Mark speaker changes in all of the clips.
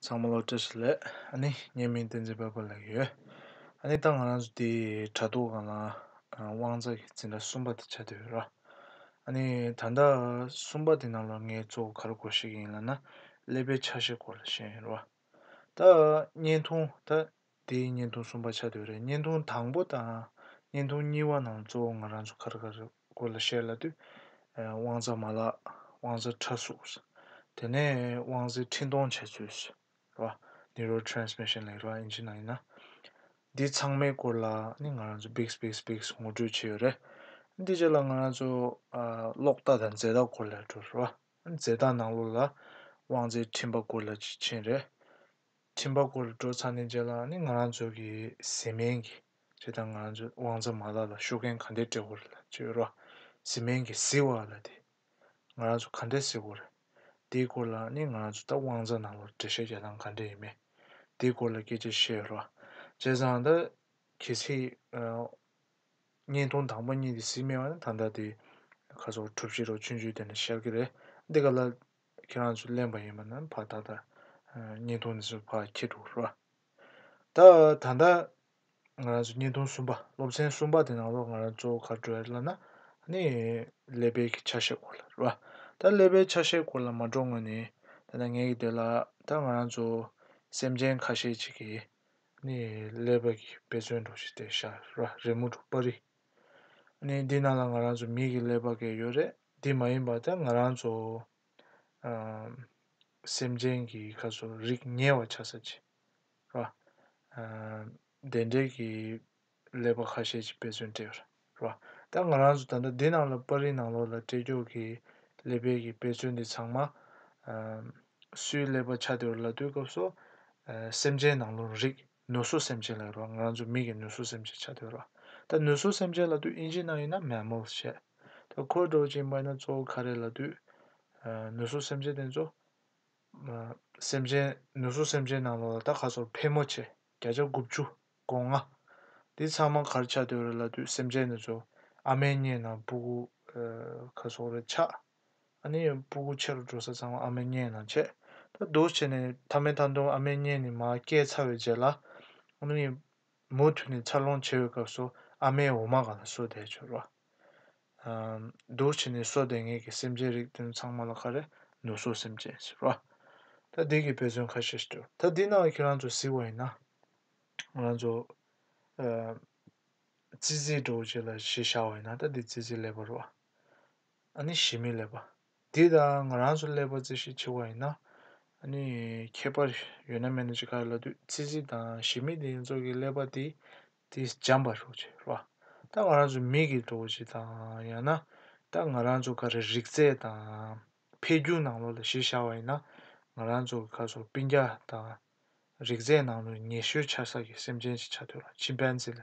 Speaker 1: ཚང་མ་སློབ་གྲྭ་ཞིག་ལས་ཨ་ནི་ཉེས་མིང་བསྟན་འཛིན་དཔལ་འབར་ལགས་ཡོད། ཨ་ནི་ད་ང་རང་ཚོ་འདིའི་དྲ་ཐོག་གང་ལ་དབང་རྩ་གི་འཛིན་གྲྭ་གསུམ་པ་དེ་བྱ་འདོད་ཡོད་ར། ཨ་ནི་ད་ལྟ་གསུམ་པ་དེ་རྣམས་ལ་ངས་གཙོ་བོ་ག་རེ་གོ་ཤེས་ཀྱི་ཡིན་ལ་ན་ཀླད་པའི་ཆ་ཤས་སྐོར་ལ་བཤད་ཡིན་ར། ད་བརྙན་ཐུང་ད། དེ་ཡིས་བརྙན་ཐུང་གསུམ་པ་ཆགས་དུས་རེད་བརྙན་ཐུང་དང་པོ་དང་བརྙན་ཐུང་གཉིས་པ་ནང་གཙོ་བོ་ང་རང་ཚོ་ཁར་ཁར་དགོད་ལ་བཤད་ལ་དུས། དབང་རྩ་མ་ལགས། དབང་རྩ་ཕྲ་གཟུགས། དེ་ནས་དབང་རྩའི་འཕྲིན་གཏོང་བྱེད་ཚུལ། རེད་བ། Neural Transmission ལེགས་ར་ཨིན་ཇི་ནང་ཡིན་ན། འདི་ཚང་མའི་སྐོར་ལ་ནི་ང་རང་ཚོ་འབིགས་འབིགས་འབིགས་ངོ་སྤྲོད་བྱས་ཡོད་རེད། འདི་བྱས་ལ་ང་རང་ཚོ། གློག་རྟ་དང་རྫས་རྟགས་སྐོར་ལ་བྲོ་རེད་བ། རྫས་རྟགས་ནང་ལོགས་ལ། དབང་རྩའི་འཕྲིན་པ་སྐོར་ལ་ཅིག་མཆན་རེད། ཁྲིམས་པ་སྐོར་ལ་འགྲོ་ཚར་ནས་རྗེས་ལ་ནི་ང་རང་ཚོའི་གི་གཟིམ་སྨན་གི་ཅེས་དང་ང་རང་ཚོའི་དབང་རྩ་མ་ལག་ལ་ཤོ་གན་ག་འདྲས་སྤྲད་ཧོར་ལ་བཅོས་རོགས་གཟིམ་སྨན་གི་གཟིགས་བ་ལ་དེ་ང་རང་ཚོ་ག་འདྲས་གཟིགས་ཧོར་དེའི་སྐོར་ལ་ནི་ང་རང་ཚོ་ད་དབང་རྩ་ནང་ལོར་འགྲེལ་བཤད་རྒྱག་སྟངས་ག་འདྲས་ཡིན་མེད་དེའི་སྐོར་ལ་སྐད་ཆ་བཤད་རོགས་བྱས་ཙང་ད་གལ་སྲིད་བརྙན་ཐུང་དང་པོ་གཉིས་དེ་གཟིགས་མེད་བ་ནི་ད་ལྟ་དེ་ཁ་སོག་གྲུབ་བྱེད་རོགས་ཆུན་ཆུན་དེ་ནས་ཤར་གི་རེད་འདི་ག་ལ་ཁྱེད་རང་ཚོས་གླེང་བ་ཡིན་པ་ན་ཕ་ད་ད་སྙིང་སྟོང་ནས་ཕ་ཁྱེད་འགྲོ་རོགས། ད་ད་ང་རང་ཚོས་སྙིང་སྟོང་གསུམ་པ་སློབ་ཚན་གསུམ་པ་དེ་ནང་ལོགས་ང་རང་ཚོ་ག་འགྲོ་ཡ་ལ་ན་ནི་ཀླད་པའི་ཆ་ཤས་སྐོར་ལ་རོགས། ད་ཀླད་པའི་ཆ་ཤས་སྐོར་ལ་མ་འགྲོ་སྔོན་ནས་ད་ད་ངེད་ཀྱི་དེ་ལ་ད་ང་རང་ཚོ་སེམས་ཅན་ཁ་ཤས་ཅིག་གིས་ནི་ཀླད་པ་གི་དཔེ་མཚོན་འགྲོ་ཞིག་དེ་ཤ་རོགས་རི་མོ་འགྲོ་པར་རིགས། ནི་འདི་ནང་ལ་ང་རང་ཚོ་མི་གི་ཀླད་པ་གས་ཡོད་རེད། འདི་མ་ཡིན་པར་ཐལ་ང་རང་ཚོ་སེམས་ཅན་གྱི་ཁ་སོ་རིག་ཉེ་བར་ཆ་ས་ཆེ་ར། བདེན་འབྲེལ་གྱི་ཀླད་པ་ཁ་ཤས་ཀྱི་དཔེ་མཚོན་སྤྲད་ར། ད་ང་རང་ཚོ་ད་ལྟ་འདི་ནང་ལ་པར་རིས་ནང་ལོགས་ལ་སྤྲད་ཀྱོག་གི་ཀླད་པའི་གི་དཔེ་མཚོན་འདི་ཚང་མ། སུའི་ཀླད་པ་ཆ་དེ་བ་ལ་ལྟོས་སྐབས་སོ་སེམས་ཅན་ནང་ལོགས་རིག་ནུས་གསོ་སེམས་ཅན་ལ་རོགས་ང་རང་ཚོ་མི་གི་ནུས་གསོ་སེམས་ཅན་བྱ་འདོད་རོགས་ད་ནུས་གསོ་སེམས་ཅན་ལ་དུས་ཨིན་ཇི་ནང་ཡིན་ན་མལ་མོལ་བྱས་ད་ཁོའི་སྒྲོག་ཅིང་སྨྲས་ན་གཙོ་བོ་ཁ་རས་ལ་དུས་ནུས་གསོ་སེམས་ཅན་དེ་ཚོ་སེམས་ཅན་ནུས་གསོ་སེམས་ཅན་ནང་ལོག་ལ་ད་ཁ་སོར་ཕལ་མོ་ཆེ་བརྒྱ་ཆ་དགུ་བཅུ་གོ་ལྔ་འདི་ཚང་མ་གར་ཆག་འདོད་རེད་ལ་དུས་སེམས་ཅན་དེ་ཚོ་ཨ་མའི་སྙེ་ནང་སྤུ་གུ་ཁ་སོག་རེ་ཆགས། ཨ་ནེ་ཡང་སྤུ་གུ་ཆེ་རུ་འགྲོ་ས་ཚང་མ་ཨ་མའི་གཉེན་ནང་ཆས། ད་སྡུག་བྱས་ནས་མཐའ་མའི་མཐའ་མདུང་ཨ་མའི་གཉེན་ནས་མ་སྐྱེས་ཚར་བའི་རྗེས་ལ། ཨ་ནེ་ཡིས་མུ་མཐུད་ནས་འཚར་ལོངས་བྱེད་འོས་སྐབས་སུ་ཨ་མའི་འོ་མ་གང་ལ་གསོས་བསྡད་བྱུང་རོགས། སྡུག་བྱས་ནས་གསོས་བསྡད་ངེད་ཀྱི་སེམས་ཅན་རིགས་དེ་ཚང་མ་ལ་ག་རེ་ནུ་གསོ་སེམས་ཅན་ཞིག་རོགས། ད་སྡིག་གི་དཔེ་མཚོན་ཁ་ཤས་ཤིག་བསྟོད། ད་འདི་ནང་ཁྱེད་རང་ཚོ་གཟིགས་བ་ཡིན་ན། ང་རང་ཚོ། ཙི་ཙིའི་གྲོགས་བྱས་ལ་ཞེས་བྱ་བ་ཡིན་ན་ད་འདི་ཙི་ཙི་ལེགས་པ་རོགས། ཨཱ་ནི་ཞི་མི་ལས་པ། འདི་ད་ང་རང་ཚོ་ཀླད་པ་རྩི་ཤེས་ཆེ་བ་ཡིན་ན། ཨཱ་ནི་ཁྱད་པར་ཡོད་ན་མེད་ན་ཅི་ག་ལ་དུས་ཚིགས་རྩི་དང་ཞི་མི་དེ་ཚོ་གི་ཀླད་པ་དེ་དེ་འཇམ་པ་ཤོག་ཆེ་རེད་བ། ད་ང་རང་ཚོ་མིག་གིས་འགྲོ་བ་ཞིག་དང་ཡང་ན། ད་ང་རང་ཚོ་ག་རེ་རིག་རྩལ་དང། འཕེལ་རྒྱུག་ནང་ལོགས་ལ་གཞི་བཞག་བ་ཡིན་ན། ང་རང་ཚོ་གི་ཁ་སོ་སྤིན་རྒྱ་དང། རིག་རྩལ་ནང་ལོགས་ཉེ་ཤོས་ཆ་ས་ཀྱི་སེམས་ཅན་གྱི་ཆ་ཐོས་ལ་ཆིམ་པན་ཛི་ལ།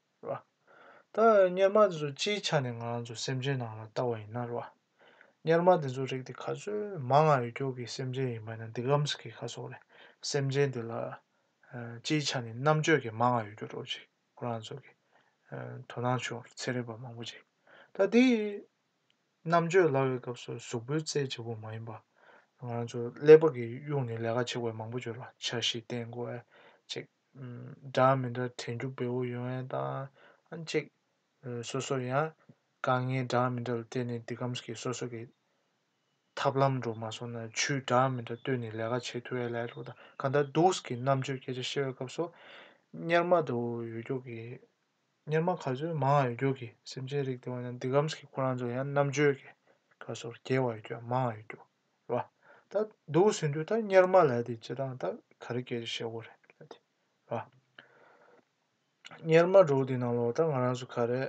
Speaker 1: རེད། ད་གཉེར་མ་དེ་ཚོ་སྤྱིའི་ཆ་ནས་ང་ཚོ་སེམས་ཅན་ནང་ལ་བལྟ་བ་ཡིན་ན་རེད། གཉེར་མ་དེ་ཚོའི་རིགས་དེ་ག་ཚོད་མང་ང་ཡོད་ཀྱོག་གི་སེམས་ཅན་ཡིན་པ་ན་འདི་གམ་ས་གི་ཁ་སོག་ལས་སེམས་ཅན་དེ་ལ་སྤྱིའི་ཆ་ནས་རྣམ་དཔྱོད་ཀྱི་མང་ང་ཡོད་ཀྱོག་རོགས་ཅིག་ཁོ་རང་ཚོ་གི་དོ་སྣང་བྱོས་རོགས་ཚེ་རིང་བ་མང་པོ་ཅིག་ད་དེ་རྣམ་དཔྱོད་ལ་བའི་སྐབས་སུ་གཟུགས་པོའི་རྩལ་བྱེད་པོ་མ་ཡིན་པ་ང་རང་ཚོ་ཀླད་པ་གི་གཡུག་ནས་ལས་ཀ་བྱེད་དགོས་མང་པོ་བྱོས་རོགས་འཆར་གཞི་བསྟན་དགོས་ཅིག། སྒྲ་མི་འདྲ་དྲན་རྒྱུ་བེའུ་ཡོན་ཨན་དང་ཨན་གཅིག། སོ་སོར་ཡང་དཀའ་ངལ་སྒྲ་མི་འདྲ་ལ་བརྟེན་ནས་འདི་ཁམས་ཀྱི་སོ་སོ་གི་ཐབས་ལམ་འགྲོ་མ་སོང་ན་ཆུའི་སྒྲ་མི་འདྲ་བཏོན་ནས་ལས་ཀ་བྱེད་ཐུ་བས་ལས་ལྷོད་དང་གང་ལྟར་སྡུགས་ཀྱི་རྣམ་དཔྱོད་སྐད་ཆ་བཤད་བའི་སྐབས་སུ། གཉེར་མ་དུ་ཡོད་རྒྱུགས་ཀྱི། གཉེར་མ་ག་ཚོད་མང་ཡོད་རྒྱུགས་ཀྱི་སེམས་ཅན་རིགས་དེ་བ་ན་འདི་ཁམས་ཀྱི་ཁོ་རང་ཚོ་ཡང་རྣམ་དཔྱོད་ཀྱི་ཁ་སོར་རྒྱལ་བ་ཡོད་རྒྱུགས་མང་ཡོད་རྒྱུགས། རེད་ད་འདུག་ཟིན་དུས་ད་གཉེར་མ་ལས་དེ་ཅི་དང་ད་ག་རེ་སྐྱེལ་ཤེས་གོ་རེད་ལབ་དེ་རེད། གཉེར་མ་སྒྲོག་དེ་ནང་ལོག་ད་ང་རང་ཚོ་ག་རེ་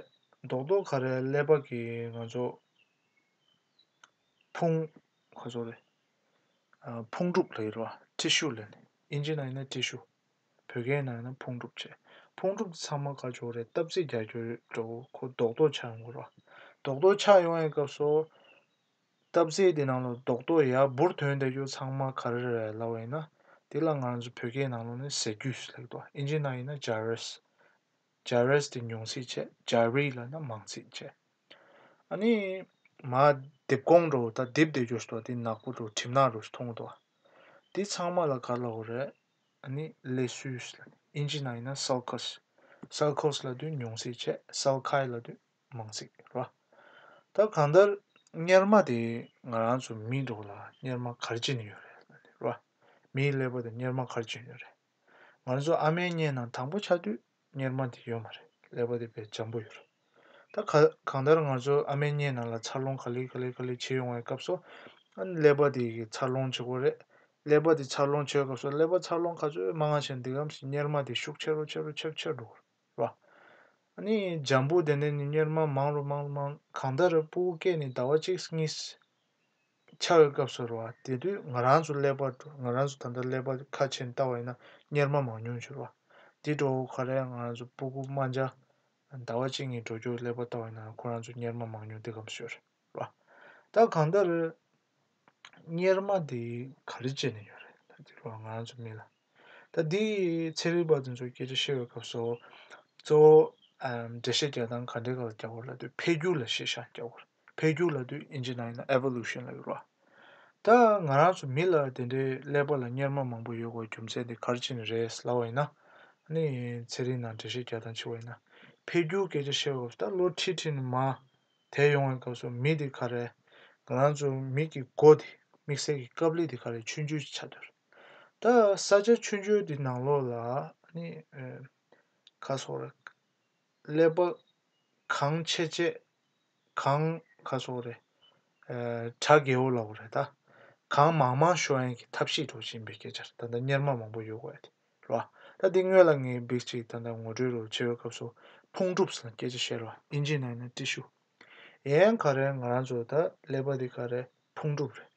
Speaker 1: རྡོག་རྡོག་ག་རེ་ཀླད་པ་གི་ང་ཚོ་ཕུང་ག་ཚོ་རེད་ཕུང་གྲུབ་ལེ་རེད་ཐྲི་ཤུ་ལེ་ནི་ཨིན་ཇི་ནང་ན་ཐྲི་ཤུ་བོད་སྐད་ནང་ན་ཕུང་གྲུབ་བྱས་ཕུང་གྲུབ་དེ་ཚང་མ་ག་ཅོག་རེད་སྟབས་རྩེ་རྒྱག་རྒྱུ་རེད་འགྲོ་གོ་རྡོག་རྡོག་ཆགས་ཡོང་གོ་རེད་རྡོག་རྡོག་ཆགས་ཡོང་བའི་སྐབས་སུ། སྟབས་བདེ་དེ་ནང་ལོ་རྡོག་རྡོག་ཡར་འབུར་དོན་དེ་རྒྱུ་ཚང་མ་ག་རེ་རེད་ལབ་བ་ཡིན་ན་དེ་ལ་ང་རང་ཚོ་བོད་སྐད་ནང་ལོ་ནས་ཟེར་རྒྱུ་ལེགས་འདུག་ཨིན་ཇི་ནང་ཡིན་ན་ཇཱ་རེས། Jahres། དེ་ཉུང་ཚིག་བྱས་ཇཱ་རི་ལ་ནི་མང་ཚིག་བྱས། ཨ་ནི། མ། དེབ་གོང་འགྲོ་བ་ད་དེབ་དེ་རྒྱུ་སོ་དེ་ནག་པོ་འགྲོ་གྲིབ་ནག་རུ་མཐོང་གི་འདུག་ཨ། དེ་ཚང་མ་ལ་ག་ལ་འོ་རེད། ཨ་ནི། ལས་སུས། ཨིན་ཇི་ནང་ཡིན་ན་སཱལ་ཁཱས། Salcos། ལ་དུས་ཉུང་ཚིག་བྱས་སཱལ་ཁཱའི་ལ་དུས་མང་ཚིག་རེད་བ། ད་གང་ལྟར་གཉེར་མ་དེ་ང་རང་ཚོ་མིའི་འགྲོ་བ་ལ་གཉེར་མ་གར་བྱེད་ནི་ཡོད་རེད་བ། མིའི་ཀླད་པ་དེ་གཉེར་མ་གར་བྱེད་ནི་ཡོད་རེད། ང་རང་ཚོ་ཨ་མའི་སྙན་ནང་དང་པོ་ཆགས་དུས་གཉེར་མ་དེ་ཡོད་མ་རེད་ཀླད་པ་དེ་བས་འཇམ་པོ་ཡོད་རེད། ད་ག་གང་ལྟར་ང་ཚོ་ཨ་མའི་སྙན་ནང་ལ་འཚར་ལོངས་ག་ལེ་ག་ལེ་ག་ལེ་བྱེད་ཡོང་བའི་སྐབས་སུ་ཨ་ནི་ཀླད་པ་དེ་གི་འཚར་ལོངས་བྱེད་དགོས་རེད། ཀླད་པ་དེ་འཚར་ལོངས་བྱེད་སྐབས་སུ་ཀླད་པ་འཚར་ལོངས་ག་ཚོད་མང་ང་བྱེད་འདུག་གམ་ཞེས་གཉེར་མ་དེ་ཤུགས་ཆེ་རུ་ཆེ་རུ་ཆེར་ཆེར་འགྲོ་གི་རེད། བ། ནི་འཇམ་པོ་དེ་ནས་ནི་གཉེར་མ་མང་རུ་མང་རུ་མང། གང་ལྟར་སྤུ་བོ་སྐད་ནི་ཟླ་བ་གཅིག་གཉིས། འཆའ་བའི་སྐབས་སུ་རུ་བ་དེ་དུས་ང་རང་ཚོ་ཀླད་པ་འགྲོ་ང་རང་ཚོ་ད་ལྟ་ཀླད་པ་ཁ་ཕྱེ་ནས་བལྟ་བ་ཡིན་ན་གཉེར་མ་མང་ཉུང་འཕྱུར་བ། དེ་འགྲོ་ཁ་རས་ང་རང་ཚོ་སྤུ་གུ་རྨ་འཇའ། ཟླ་བ་གཅིག་གཉིས་འགྲོ་རྒྱུར་ཀླད་པ་བལྟ་བ་ཡིན་ན་ཁོ་རང་ཚོ་གཉེར་མ་མང་ཉུང་དེ་གམ་ཤོར་བ། ད་གང་ལྟར། གཉེར་མ་དེ་ག་རེ་བྱས་ནས་ཡོད་རེད་ད་དེ་ལོར་ང་རང་ཚོ་མིན་ལ། ད་དེ་ཚེ་རིལ་བ་དེ་ཚོ་སྐད་ཆ་བཤད་པའི་སྐབས་སུ། གཙོ་བོ་འགྲེལ་བཤད་རྒྱག་སྟངས་ག་འདྲའི་སྐབས་ལ་རྒྱག་དགོས་ལབ་དུས་འཕེལ་འགྱུར་ལ་བཤད་བྱ་རྒྱག་དགོས་རེད། འཕེལ་འགྱུར་ལབ་དུས་ཨིན་ཇི་ནང་ཡིན་ན Evolution ལབ་ཡོད་རེད། ད་ང་རང་ཚོ་མི་ལ་དེ་འདྲའི་ཀླད་པ་ལ་གཉེར་མ་མང་པོ་ཡོད་སྐོར་རྒྱུ་མཚན་དེ་ག་རེ་བྱས་ནས་རེད་ལབ་པ་ཡིན་ན། ནི་ཚེ་རིལ་ནང་འགྲེལ་བཤད་རྒྱག་སྟངས་ཕྱི་བ་ཡིན་ན། འཕེལ་འགྱུར་སྐད་ཆ་བཤད་པའི་སྐབས་སུ་ད་ལོ་ཁྲིད་ཁྲིད་ནས་མ། དེ་ཡོང་བའི་སྐབས་སུ་མི་དེ་ག་རེ། ང་རང་ཚོ་མིག་གི་སྒོ་དེ་དམིགས་བསལ་གྱི་སྐབས་ལས་དེ་ག་རེ་ཆུ་འཇོལ་ཆགས་འདུག་ད་ས་ཆ་ཆུ་འཇོལ་དེ་ནང་ལོགས་ལ་ནི་ཁ་སོགས་རེད། ཀླད་པ་གང་ཆེ་ཆེ་གང་ཁ་སོགས་རེད། གྲ་རྒས་བོ་ལ་བོ་རེད་ད། གང་མང་མང་ཤོ་ཡན་གྱི་ཐབས་ཤེས་སྒྲོག་བཞིན་པའི་སྐད་ཆ་རེད་ད་ནི་གཉེར་མ་མང་པོ་ཡོད་དགོས་རེད་དེ། ལ། ད་འདི་སྔོན་ལ་ངས་འབིགས་ཅིག་ད་ལྟ་ངོ་སྤྲོད་རོགས་བྱེད་པའི་སྐབས་སུ་ཕུང་གྲུབ་ལ་སྐད་ཆ་བཤད་རོགས་ཨིན་ཇི་ནང་ནས་བཀྲིས་ཤུ། ཡན་ག་རེ་ང་རང་ཚོ་ད་ཀླད་པ་འདི་ག་རེ་ཕུང་གྲུབ་རེད།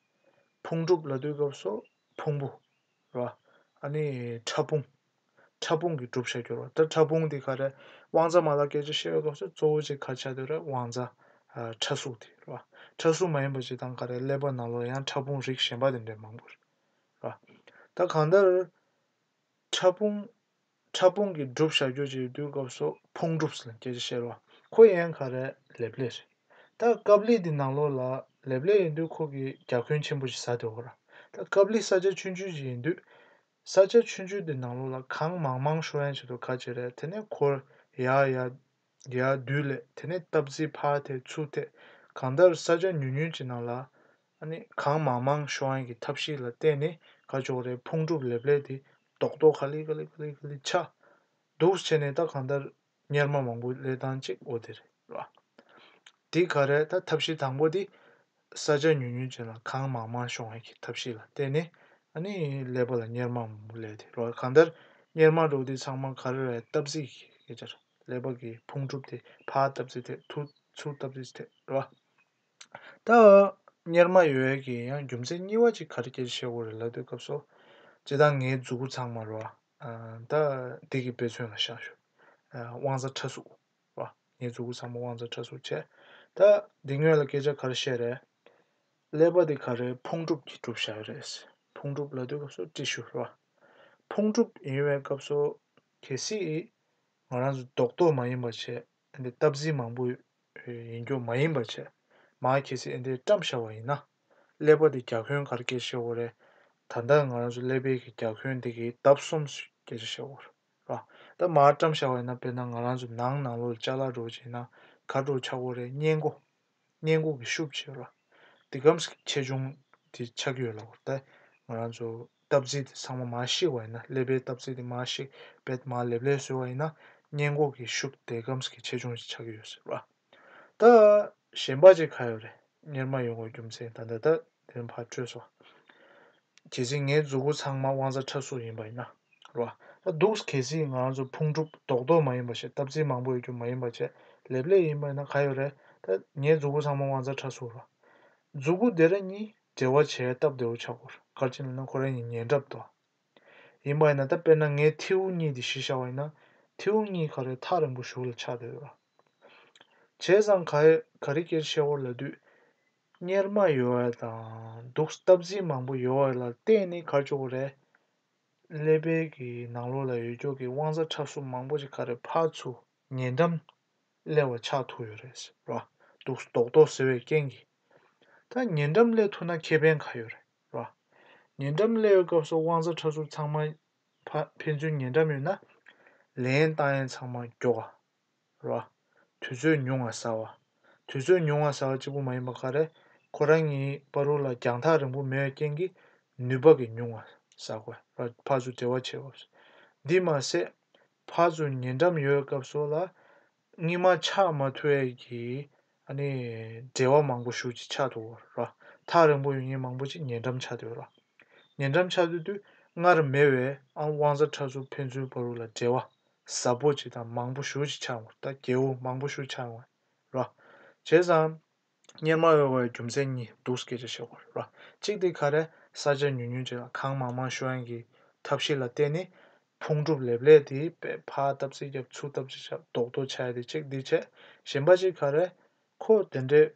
Speaker 1: ཕུང་གྲུབ་ལ་དུས་སྐབས་སུ་ཕུང་པོ། ལ། ཨ་ནི་ཕྲ་ཕུང། ཕྲ་ཕུང་གི་གྲུབ་ཆ་སྐྱོར་བ་ད་ཕྲ་ཕུང་འདི་ག་རེ་དབང་རྩ་མ་ལ་སྐད་ཆ་བཤད་པའི་སྐབས་སུ་གཙོ་བོ་གཅིག་ག་ཆ་དོད་རེད་དབང་རྩ། ཕྲ་གཟུགས་དེ། ལ། ཕྲ་གཟུགས་མ་ཡིན་པ་གཅིག་དང་ག་རེ་ཀླད་པ་ནང་ལོགས་ཡང་ཕྲ་ཕུང་རིགས་གཞན་པ་དེ་འདྲའི་མང་པོ་རེད། ད་གང་ལྟར། ཕྲ་ཕུང། ཕྲ་ཕུང་གི་སྒྲུབ་བྱ་རྒྱུད་ཀྱི་དུས་སྐབས་སུ་ཕུང་སྒྲུབ་ཟེར་སྐད་ཆ་བཤད་རོགས། ཁོ་ཡན་ག་རེ་ལེབ་ལེ་རེད། ད་སྐབས་ལི་དེ་ནང་ལོགས་ལ་ལེབ་ལེ་ཡིན་དུས་ཁོ་གི་རྒྱ་ཁུན་ཆེན་པོ་ཞིག་ཟ་དེ་འོ་ར། ད་སྐབས་ལི་ས་ཆ་ཆུན་ཆུན་ཞིག་ཡིན་དུས། ས་ཆ་ཆུན་ཆུན་དེ་ནང་ལོགས་ལ་གངས་མང་མང་ཤོ་ཡན་བྱེད་དུ་ག་ཅི་རེད་དེ་ནས་ཁོ་ཡར་ཡར། རྒྱས་ཨ་བདུད་ལས་དེ་ནས་སྟབས་བརྩི་ཕ་དེ་ཚུགས་ཐད་གང་ལྟར་ས་ཆ་ཉུང་ཉུང་ཅིག་ནང་ལ། གང་མང་མང་ཤོ་ཨན་གྱི་ཐབས་ཤེས་ལ་བརྟེན་ནས་ག་ཅོག་རེ་ཕུང་གྲུབ་ལེབ་ལེབ་དེ་རྡོག་རྡོག་ཁ་ལི་ཁ་ལི་ཁ་ལི་ཁ་ལི་ཆགས། འདུག་བྱས་ནས་ད་གང་ལྟར་གཉེར་མ་མང་པོ་ལས་ཐང་ཅིག་འོ་དེ་རེད། དེ་ག་རེད་ད་ཐབས་ཤེས་དང་པོ་དེ། ས་ཆ་ཉུང་ཉུང་ཅན་ལ་གངས་མང་མང་ཤོང་བའི་ཐབས་ཤེས་ལ་བརྟེན་ནས་ནི་ཀླད་པ་ལ་གཉེར་མ་མང་པོ་ཀླད་དེ་རོ་གང་ལྟར་གཉེར་མ་འགྲོ་དུས་ཚང་མ་ག་རེ་རེད་སྟབས་ཟིག་གི་ཅར་ཀླད་པ་གི་ཕུང་གྲུབ་དེ་ཕར་སྟབས་ཟིག་ཐད་ཐུར་ཚུར་སྟབས་ཟིག་ཐད་རེད་བ། ད་གཉེར་མ་ཡོད་ཡོད་ཀྱི་ཡང་རྒྱུ་མཚན་གཉིས་བ་ཅིག་ག་རེ་ཀྱེར་ཤེས་བོ་རེད་ལབ་དུས་སྐབས་སོ། སྤྱི་དང་ངའི་རྫུ་གུ་ཚང་མ་རེད་བ། ད་འདི་གི་དཔེ་མཚོན་ལ་བཞག་ཞུ། དབང་ས་ཁྲ་གཟུགས། བ། ངས་རྫུ་གུ་ཚང་མ་དབང་རྩ་ཕྲ་གཟུགས་བྱས། ད་འདི་ངོས་ལ་སྐད་ཆ་ག་རེ་བཤད་རེད། ཀླད་པ་འདི་ག་རེའི་ཕུང་གྲུབ་ཀྱིས་གྲུབ་བྱས་རེད། ཕུང་གྲུབ་ལ་ལྟོས་སྐབས་སུ་ཏྲི་ཤུ་བ། ཕུང་གྲུབ་ཡིན་བའི་སྐབས་སུ། གལ་སྲིད། ང་རང་ཚོ་རྡོག་རྡོག་མ་ཡིན་པ་བྱས། འདི་རྟ་བཟི་མང་པོ། ཡིན་སྐྱོ་མ་ཡིན་པ་བྱས། མ་གལ་སྲིད་འདི་བཀྲམ་ཤ་བ་ཡིན་ན། ཀླད་པ་འདི་རྒྱ་ཁོན་གར་སྐྱེལ་ཤེས་བོ་རེད། ད་ལྟ་ང་རང་ཚོ་ཀླད་པའི་གི་རྒྱ་ཁོན་འདི་གིས་ལྡབ་གསུམ་སྐྱེལ་ཤེས་བོ་རེད། ཨ། ད་མར་བཀྲམ་ཤ་བས་ན་དཔེར་ན་ང་རང་ཚོ་ནང་ནང་ལོ་ལ་ལྕགས་ལ་འགྲོ་བྱས་ན་གར་འགྲོ་ཆག་སྒོ་རེད་བསྙེན་སྒོ། བསྙེན་སྒོ་གི་ཤུབ་བྱས་ལ། དེ་སྐམ་ས་ཀྱི་ཆེ་ཆུང་དེ་ཆགས་ཀྱི་ཡོད་ལ་བར་ད་ང་རང་ཚོ་སྟབས་རྩེ་དེ་ཚང་མ་མར་བཤིག་བ་ཡིན་ན་ཀླད་པའི་སྟབས་རྩེ་དེ་མར་བཤིག་བས་མར་ལེབ་ལེབ་བཟོས་བ་ཡིན་ན་བསྙེན་སྒོ་གི་ཤུབ་དེ་སྐམ་ས་ཀྱི་ཆེ་ཆུང་ཞིག་ཆགས་ཀྱི་ཡོད་ཟེར་རོ་ཨ། ད། གཞན་པ་ཅིག་ག་ཡོད་རེད་གཉེར་མ་ཡོང་བའི་རྒྱུ་མཚན་ད་འདི་ལྟར་དོན་ཕར་བཀྲོལ་སོ། གལ་སྲིད་ངའི་རྫུ་གུ་ཚང་མ་དབང་རྩ་འཁྲབ་གསོག་ཡིན་པ་ཡིན་ན་རོ། ད་འདུག་གལ་སྲིད་ང་ཚོ་ཕུང་གྲུབ་རྡོག་རྡོག་མ་ཡིན་པ་ཞིག་སྟབས་རྩིས་མང་པོ་ཡོད་རྒྱུ་མ་ཡིན་པ་བཅས་ལེབ་ལེབ་ཡིན་པ་ཡིན་ན་ག་ཡོད་རེད་ད། ངའི་རྫུ་གུ་ཚང་མ་དབང་རྩ་འཁྲབ་གསོག་རོགས། རྫུ་གུ་དེ་ར་གཉིས་འབྲེལ་བ་བྱས་སྟབས་བདེ་བོ་ཆགས་སྐོར་སྐར་ཆེན་ལ་ན་ཁོ་ར་གཉིས་ཉེ་འདྲབ་འདུག་ཨ། ཡིན་པ་ཡིན་ན་ད་དཔེར་ན་ངའི་ཐེའུ་གཉིས་དེ་ཤི་ཤ་བ་ཡིན་ན་ཐེའུ་གཉིས་ག་རེ་ཐག་རིང་པོ་བཞུགས་ལ་ཆགས་བསྡད་རོགས། བྱས་ཙང་ག་རེ་ཀེར་བཤད་བོར་ལ་དུས། གཉེར་མ་ཡོལ་བ་དང་འདུག་སྟབས་ཟིན་མང་པོ་ཡོལ་བ་ལ་བརྟེན་ནས་གར་བཅུག་པ་རེད། ཀླད་དཔལ་གྱི་ནང་ལོགས་ལ་ཡོད་རྒྱུགས་ཀྱི་དབང་རྩ་ཁྲབ་གསུམ་མང་པོ་ཞིག་ག་རེ་ཕར་ཚུར་ཉེ་འགྲམ་ཀླད་བར་ཆགས་ཐུག་ཡོད་རེད་ཟེར་བ་འདུག་རྡོག་རྡོག་ཟེར་བའི་རྐྱེན་གྱིས། ད་ཉེ་འགྲམ་ཀླད་ཐུག་ན་ཁེ་ཕན་ག་ཡོད་རེད་བ། ཉེ་འགྲམ་ཀླད་ཡོད་སྐབས་སུ་དབང་རྩ་ཁྲབ་གསུམ་ཚང་མ་ཕན་ཚུན་ཉེ་འགྲམ་ཡོད་ན། ལེན་བཏང་ཡན་ཚང་མ་མགྱོགས། བ། དུས་ཚོད་ཉུང་བ་ཟ་བ། དུས་ཚོད་ཉུང་བ་ཟ་བ་གཅིག་པུ་མ་ཡིན་པར་ཁ་རས་ཁོ་རང་གཉིས་པ་རུ་ལ་རྒྱང་ཐག་རིང་པོ་མེད་པའི་རྐྱེན་གྱིས་ནུས་པ་གི་ཉུང་བ་ཟ་དགོས་པ་ཕ་ཚུ་བྲེལ་བ་ཆེ་བ། འདི་མ་ཟད་ཕ་ཚུ་ཉེ་འགྲམ་ཡོད་སྐབས་སུ་ལ་གཉིས་མ་ཆགས་མ་ཐུ་བས་ཀྱི་ཨ་ནི། འབྲེལ་བ་མང་པོ་ཞུགས་ཀྱིས་ཆགས་འདུག་ར། ཐག་རིང་པོ་ཡོད་ཉིན་མང་པོ་ཅིག་ཉེ་འགྲམ་ཆགས་འདུག་ར། ཉེ་འགྲམ་ཆགས་འདུག་དུས་སྔར་མེད་བའི་ཨ་དབང་བཟའ་ཁྲ་ཟུར་ཕན་ཚུན་བར་རུ་ལ་འབྲེལ་བ་ཟབ་པོ་ཅིག་དང་མང་པོ་ཞུགས་ཀྱིས་ཆགས་འོང་ད་རྒྱལ་བོ་མང་པོ་ཞུགས་ཆགས་འོང་ར། བྱས་ཙང། གཉེར་མ་འོས་བའི་རྒྱུ་མཚན་གཉིས་འདུག་སྐད་ཆ་བཤད་འོང་ར། གཅིག་དེ་ག་རེ་ས་ཆ་ཉུང་ཉུང་ཅིག་ལ་གང་མང་མང་ཞུགས་ཨང་གི་ཐབས་ཤེས་ལ་བརྟེན་ནས་ཕུང་གྲུབ་ལེབ་ལེབ་དེ་པད་ཕ་བཏབ་ཚེ་རྒྱབ་ཚུགས་བཏབ་ཅེས་བྱ་བཟློག་ཏོ་བྱ་ཡ་དེ་ཅིག་འདི་བྱས་གཞན་པ་ཅིག་ག་རེད། ཁོ་དེ་འདྲས་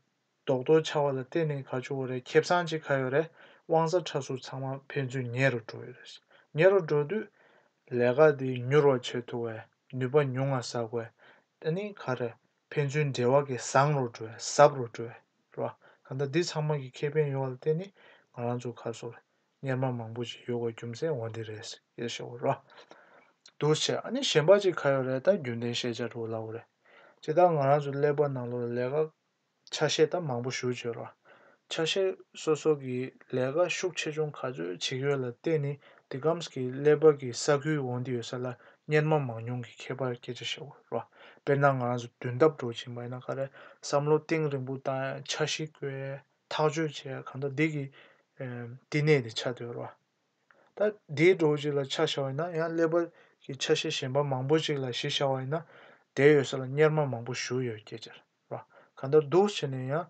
Speaker 1: བཟློག་ཏོ་བྱ་བ་ལ་བརྟེན་ནས་ག་བྱུ་བ་རེད་ཁེབས་སངས་ཅིག་ག་ཡོད་རེད་དབང་ས་ཁྲ་ཟུར་ཚང་མ་ཕན་ཚུན་ཉེ་རུ་འགྲོ་ཡོད་རེད་ཉེ་རུ་འགྲོ་དུས་ལས་ཀ་དེ་མྱུར་བ་བྱེད་ཐུབ་བས་ནུས་པ་ཉུང་ང་ཟ་དགོས་དེ་ནི་ག་རེད་ཕན་ཚུན་འབྲེལ་བ་གི་བཟང་རུ་འགྲོ་ཟབ་རུ་འགྲོ་རེད་ག་འདྲ་འདི་ཚང་མ་གི་ཁེ་ཕན་ཡོད་བ་ལ་བརྟེན་ནས་ང་རང་ཚོ་ག་སོ་རེད་གཉེར་མ་མང་པོ་ཞིག་ཡོད་དགོས་རྒྱུ་མཚན་འོ་འདི་རེད། ཡེ་ཤེས་བོར་བ། འདུ་བྱེད་ཨ་ནི་གཞན་པ་ཅིག་ག་ཡོད་རེད་ད་རྒྱུན་ལྡན་ཤེས་བྱ་འགྲོ་སླ་བོ་རེད། ཅེས་ད་ང་རང་ཚོའི་ཀླད་པ་ནང་ལོ་ལས་ཀ་ཆ་ཤས་ད་མང་པོ་ཞུ་བྱོས་རོགས། ཆ་ཤས་སོ་སོ་གི་ལས་ཀ་ཤུགས་ཆེ་ཆུང་ག་ཚོད་ཅིག་ཡོད་ལ་བལྟས་ནི་འདི་ཀམས་ཀྱི་ཀླད་པ་གི་ས་ཁུལ་འོ་འདི་ཡོད་ས་ལ་གཉེར་མ་མང་ཉུང་གི་ཁྱད་པར་སྐད་ཆ་བཤད་བོར་རོགས། དཔེར་ན་ང་རང་ཚོ་དུས་འདབ་འགྲོ་བཞིན་པ་ཡིན་ན་ག་རེ་བསམ་བློ་གཏིང་རིང་པོ་དང་ཆ་གཞི་བཀོལ། ཐག་གཅོད་བྱས་ཡ་གང་ད་འདི་གི་བསྟི་གནས་དེ་ཆ་དོད་ར། ད་འདིའི་འགྲོ་བ་ཅིག་ལ་ཆ་བྱ་བ་ཡིན་ན་ཡང་ཀླད་པར་གྱི་ཆ་ཤས་གཞན་པ་མང་པོ་ཅིག་ལ་གཞི་བྱ་བ་ཡིན་ན་དེ་ཡོད་ས་ལ་གཉེར་མ་མང་པོ་བཞུགས་ཡོད་སྐད་ཅེས་ར། གང་ལྟར་འདུག་བྱས་ནས་ཡང་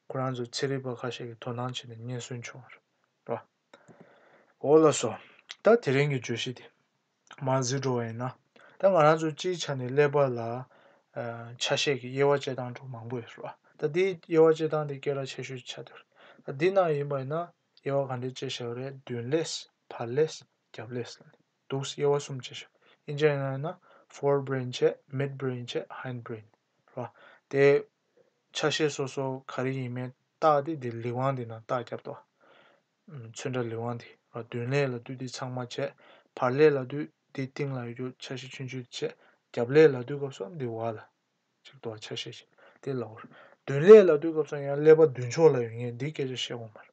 Speaker 1: ཁོ་རང་ཚོའི་ཚེ་རིལ་པ་ཁ་ཤས་ཀྱི་དོ་སྣང་བྱས་ནས་སྙན་གསོལ་བྱུང་བ་ར། འོ་ལགས་སོ། ད་དེ་རིང་གི་བརྗོད་གཞི་དེ། མ་གཟིགས་འགྲོ་བ་ཡིན་ན། ད་ང་རང་ཚོ་སྤྱིའི་ཆ་ནས་ཀླད་པ་ལ། ཆ་ཤས་ཀྱི་དབྱེ་བ་དཔྱད་སྟངས་དྲུག་མང་པོ་ཡོད་རེད་བ། ད་དེའི་དབྱེ་བ་དཔྱད་སྟངས་དེ་སྐད་གྲགས་ཆེ་ཤོས་ཀྱི་ཆ་དེ་རེད། ད་འདི་ནང་ཡིན་པ་ཡིན་ན། དབྱེ་བ་ག་འདྲའི་དཔྱད་ཤེས་བ་རེད་མདུན་ཀླད། བར་ཀླད། རྒྱབ་ཀླད། ལ་ནི་འདུག་དབྱེ་བ་གསུམ་དཔྱད་ཤེས་བ་ཡིན། དབྱིན་ཇི་ཡིན་ན། Fore Brain བྱས Mid Brain བྱས Hind Brain རེད་བ། དེ། ཆ་ཤས་སོ་སོ་ག་རེ་ཡིན་མིན་བརྟགས་ཏེ་དེ་ལི་ཝང་དེ་ནང་བརྟག་བརྒྱབ་ཏོ། མཚོན་འདྲ་ལུས་དབང་དེ་རོ་བདུན་ལས་ལ་བདུད་དེ་ཚང་མ་བྱས། བར་ལས་ལ་བདུད་དེ་སྟེང་ལ་ཡོད་ཆ་བཞི་ཆུན་ཆུན་དེ་བྱས། རྒྱབ་ལས་ལ་བདུད་སྐབས་སོགས་འདི་བར་ལ། ཅིག་ཏུ་བ་ཆ་ཤས་བཞི་དེ་ལ་བར། བདུན་ལས་ལ་བདུད་སྐབས་སོགས་ཡང་ཀླད་པ་བདུན་ཕྱོགས་ལ་ཡོད་ངེས་འདི་སྐད་ཆ་བཤད་གོང་མར།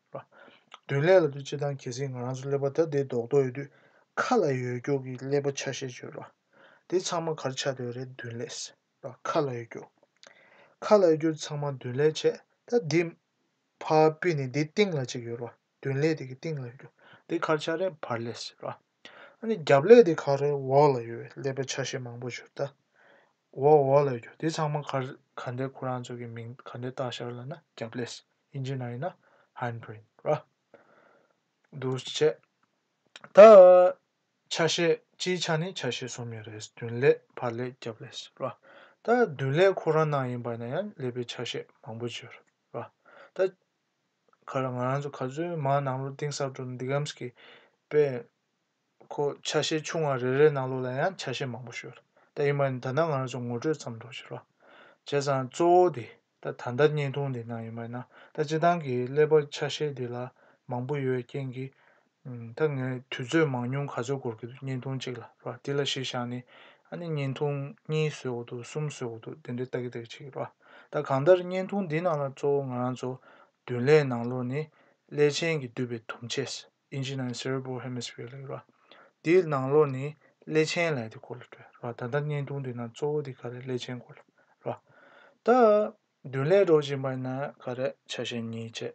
Speaker 1: བདུན་ལས་ལ་བདུད་སྤྱི་དང་གལ་སྲིད་ང་རང་ཚོ་ཀླད་པ་ད་ལྟའི་རྡོག་རྡོག་ཡོད་དུས། ཁ་ལ་ཡོད་སྐྱོགས་ཀྱི་ཀླད་པ་ཆ་ཤས་བཅུ། དེ་ཚང་མ་གར་ཆགས་འདོད་རེད་བདུན་ལས། ཁ་ལ་ཡོད་སྐྱོགས། ཁ་ལ་ཡོད་སྐྱོགས་འདི་ཚང་མ་བདུན་ལས་བྱས། ད་འདི། ཕ་སྤུས་ནི་དེའི་སྟེང་ལ་གཅིག་ཡོད་རོ། བདུན་ལས་དེ་གི་སྟེང་ལ་ཡོད་དོ། དེའི་ཁར་ཆ་རེ་བར་ལས་ཟེར་རོ། ཨ་ནི་རྒྱབ་ལས་དེའི་ཁར་རེ་འོག་ལ་ཡོད་བས་ལས་པའི་ཆ་ཤས་མང་པོ་བྱུར་ད། འོག་འོག་ལས་གྱོ་དེ་ཚང་མ་ཁར་ག་འདའི་ཁོ་རང་ཚོ་གི་མིང་ག་འདའི་རྟགས་ཤར་ལ་ན་རྒྱབ་ལས་ཨིན་ཇི་ན་ཡིན་ན་ཧན་བོན་རོ། འདུ་བྱེད། ད། ཆ་ཤས་སྤྱིའི་ཆ་ནི་ཆ་ཤས་གསུམ་ཡོད་རེད་བདུན་ལས་བར་ལས་རྒྱབ་ལས་ཟེར་རོ། ད་བདུན་ལས་ཁོ་རང་ནང་ཡིན་པ་ན་ཡང་ལས་པའི་ཆ་ཤས་མང་པོ་བྱུར། པ། ད་ག་ལ་ང་རང་ཚོ་ག་ཚོད་མ་ནང་ལོག་གཏིང་ཟབ་དུ་འདི་གམ་ཀྱི་པས་ཁོ་ཆ་ཤས་ཆུང་བ་རེ་རེ་ནང་ལོག་ལ་ཡང་ཆ་ཤས་མང་པོ་ཤོད་ད་ཡིན་མ་ཡིན་ད་ནང་ང་རང་ཚོ་ངོ་སྤྲོད་ཙམ་འགྲོ་ཤི་རོགས་བྱས་ཙང་གཙོ་བོ་དེ་ད་ད་ལྟ་བརྙན་ཐུང་འདི་ནང་ཡིན་མ་ཡིན་ན་ད་སྤྱི་སྟངས་ཀྱི་ཀླད་པ་ཆ་ཤས་འདི་ལ་མང་པོ་ཡོད་རྐྱེན་གྱིས་ད་ངས་དུས་ཚོད་མང་ཉུང་ག་ཚོད་འགོར་གྱི་འདུག་བརྙན་ཐུང་གཅིག་ལ་རེད་པ་དེ་ལ་གཞི་བཞག་ནས་ཨ་ནི་བརྙན་ཐུང་གཉིས་བཟོས་འོག་ཏུ་གསུམ་བཟོས་འོག་ཏུ་དེ་འདྲའི་ལྟ་གི་རེད་ཅེས་རེད་པ་ད་གང་ལྟར་བརྙན་ཐུང་འདི་ནང་ལ་གཙོ་བོ་ང་རང་ཚོ་བདུན་ལས་ནང་ལོགས་ནི་ཀླད་ཆེན་གྱིས་བསྡུས་པའི་དུམ་ཆེས Engine and Cerebral Hemisphere ལ་ཡོད་རེད་པ་དེའི་ནང་ལོགས་ནི་ཀླད་ཆེན་ལ་ཡོད་དེ་སྐོར་ལ་བྲོས་རེད་པ་ད་ལྟ་བརྙན་ཐུང་འདི་ནང་གཙོ་བོ་དེ་ག་རེད་ཀླད་ཆེན་སྐོར་ལ་རེད་པ་ད་བདུན་ལས་སྒྲོག་བཞིན་པ་ཡིན་ན་ག་རེད་ཆ་ཤས་གཉིས་བཅས་